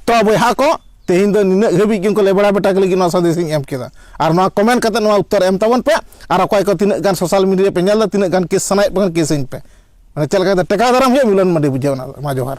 ᱛᱚ ᱵᱚᱭᱦᱟ ᱠᱚ ᱛᱮᱦᱮᱧ ᱫᱚ ᱱᱤᱱᱟᱹᱜ ᱦᱟᱹᱵᱤᱡ ᱜᱮ ᱩᱱᱠᱩ ᱞᱮᱵᱲᱟ ᱵᱮᱴᱟ ᱠᱚ ᱞᱟᱹᱜᱤᱫ ᱱᱚᱣᱟ ᱥᱟᱸᱫᱮᱥ ᱤᱧ ᱮᱢ ᱠᱮᱫᱟ ᱟᱨ ᱱᱚᱣᱟ ᱠᱚᱢᱮᱱᱴ ᱠᱟᱛᱮ ᱱᱚᱣᱟ ᱩᱛᱛᱚᱨ ᱮᱢ ᱛᱟᱵᱚᱱ ᱯᱮ ᱟᱨ ᱚᱠᱚᱭ ᱠᱚ ᱛᱤᱱᱟᱹᱜ ᱜᱟᱱ ᱥᱳᱥᱟᱞ ᱢᱤᱰᱤᱭᱟ ᱯᱮ ᱧᱮᱞ ᱮᱫᱟ ᱛᱤᱱᱟᱹᱜ ᱜᱟᱱ ᱠᱮᱥ ᱥᱟᱱᱟᱭᱮᱫ ᱯᱮ ᱠᱷᱟᱱ ᱠᱮᱥ ᱟᱹᱧ ᱯᱮ ᱢᱟᱱᱮ ᱪᱮᱫ ᱞᱮᱠᱟ ᱠᱟᱛᱮ ᱴᱮᱠᱟᱣ ᱫᱟᱨᱟᱢ ᱦᱩᱭᱩᱜᱼᱟ ᱢᱤᱞᱚᱱ ᱢᱟᱹᱰᱤ ᱵᱩᱡᱷᱟᱹᱣ ᱚᱱᱟ ᱫᱚ ᱢᱟ ᱡᱚᱦᱟᱨ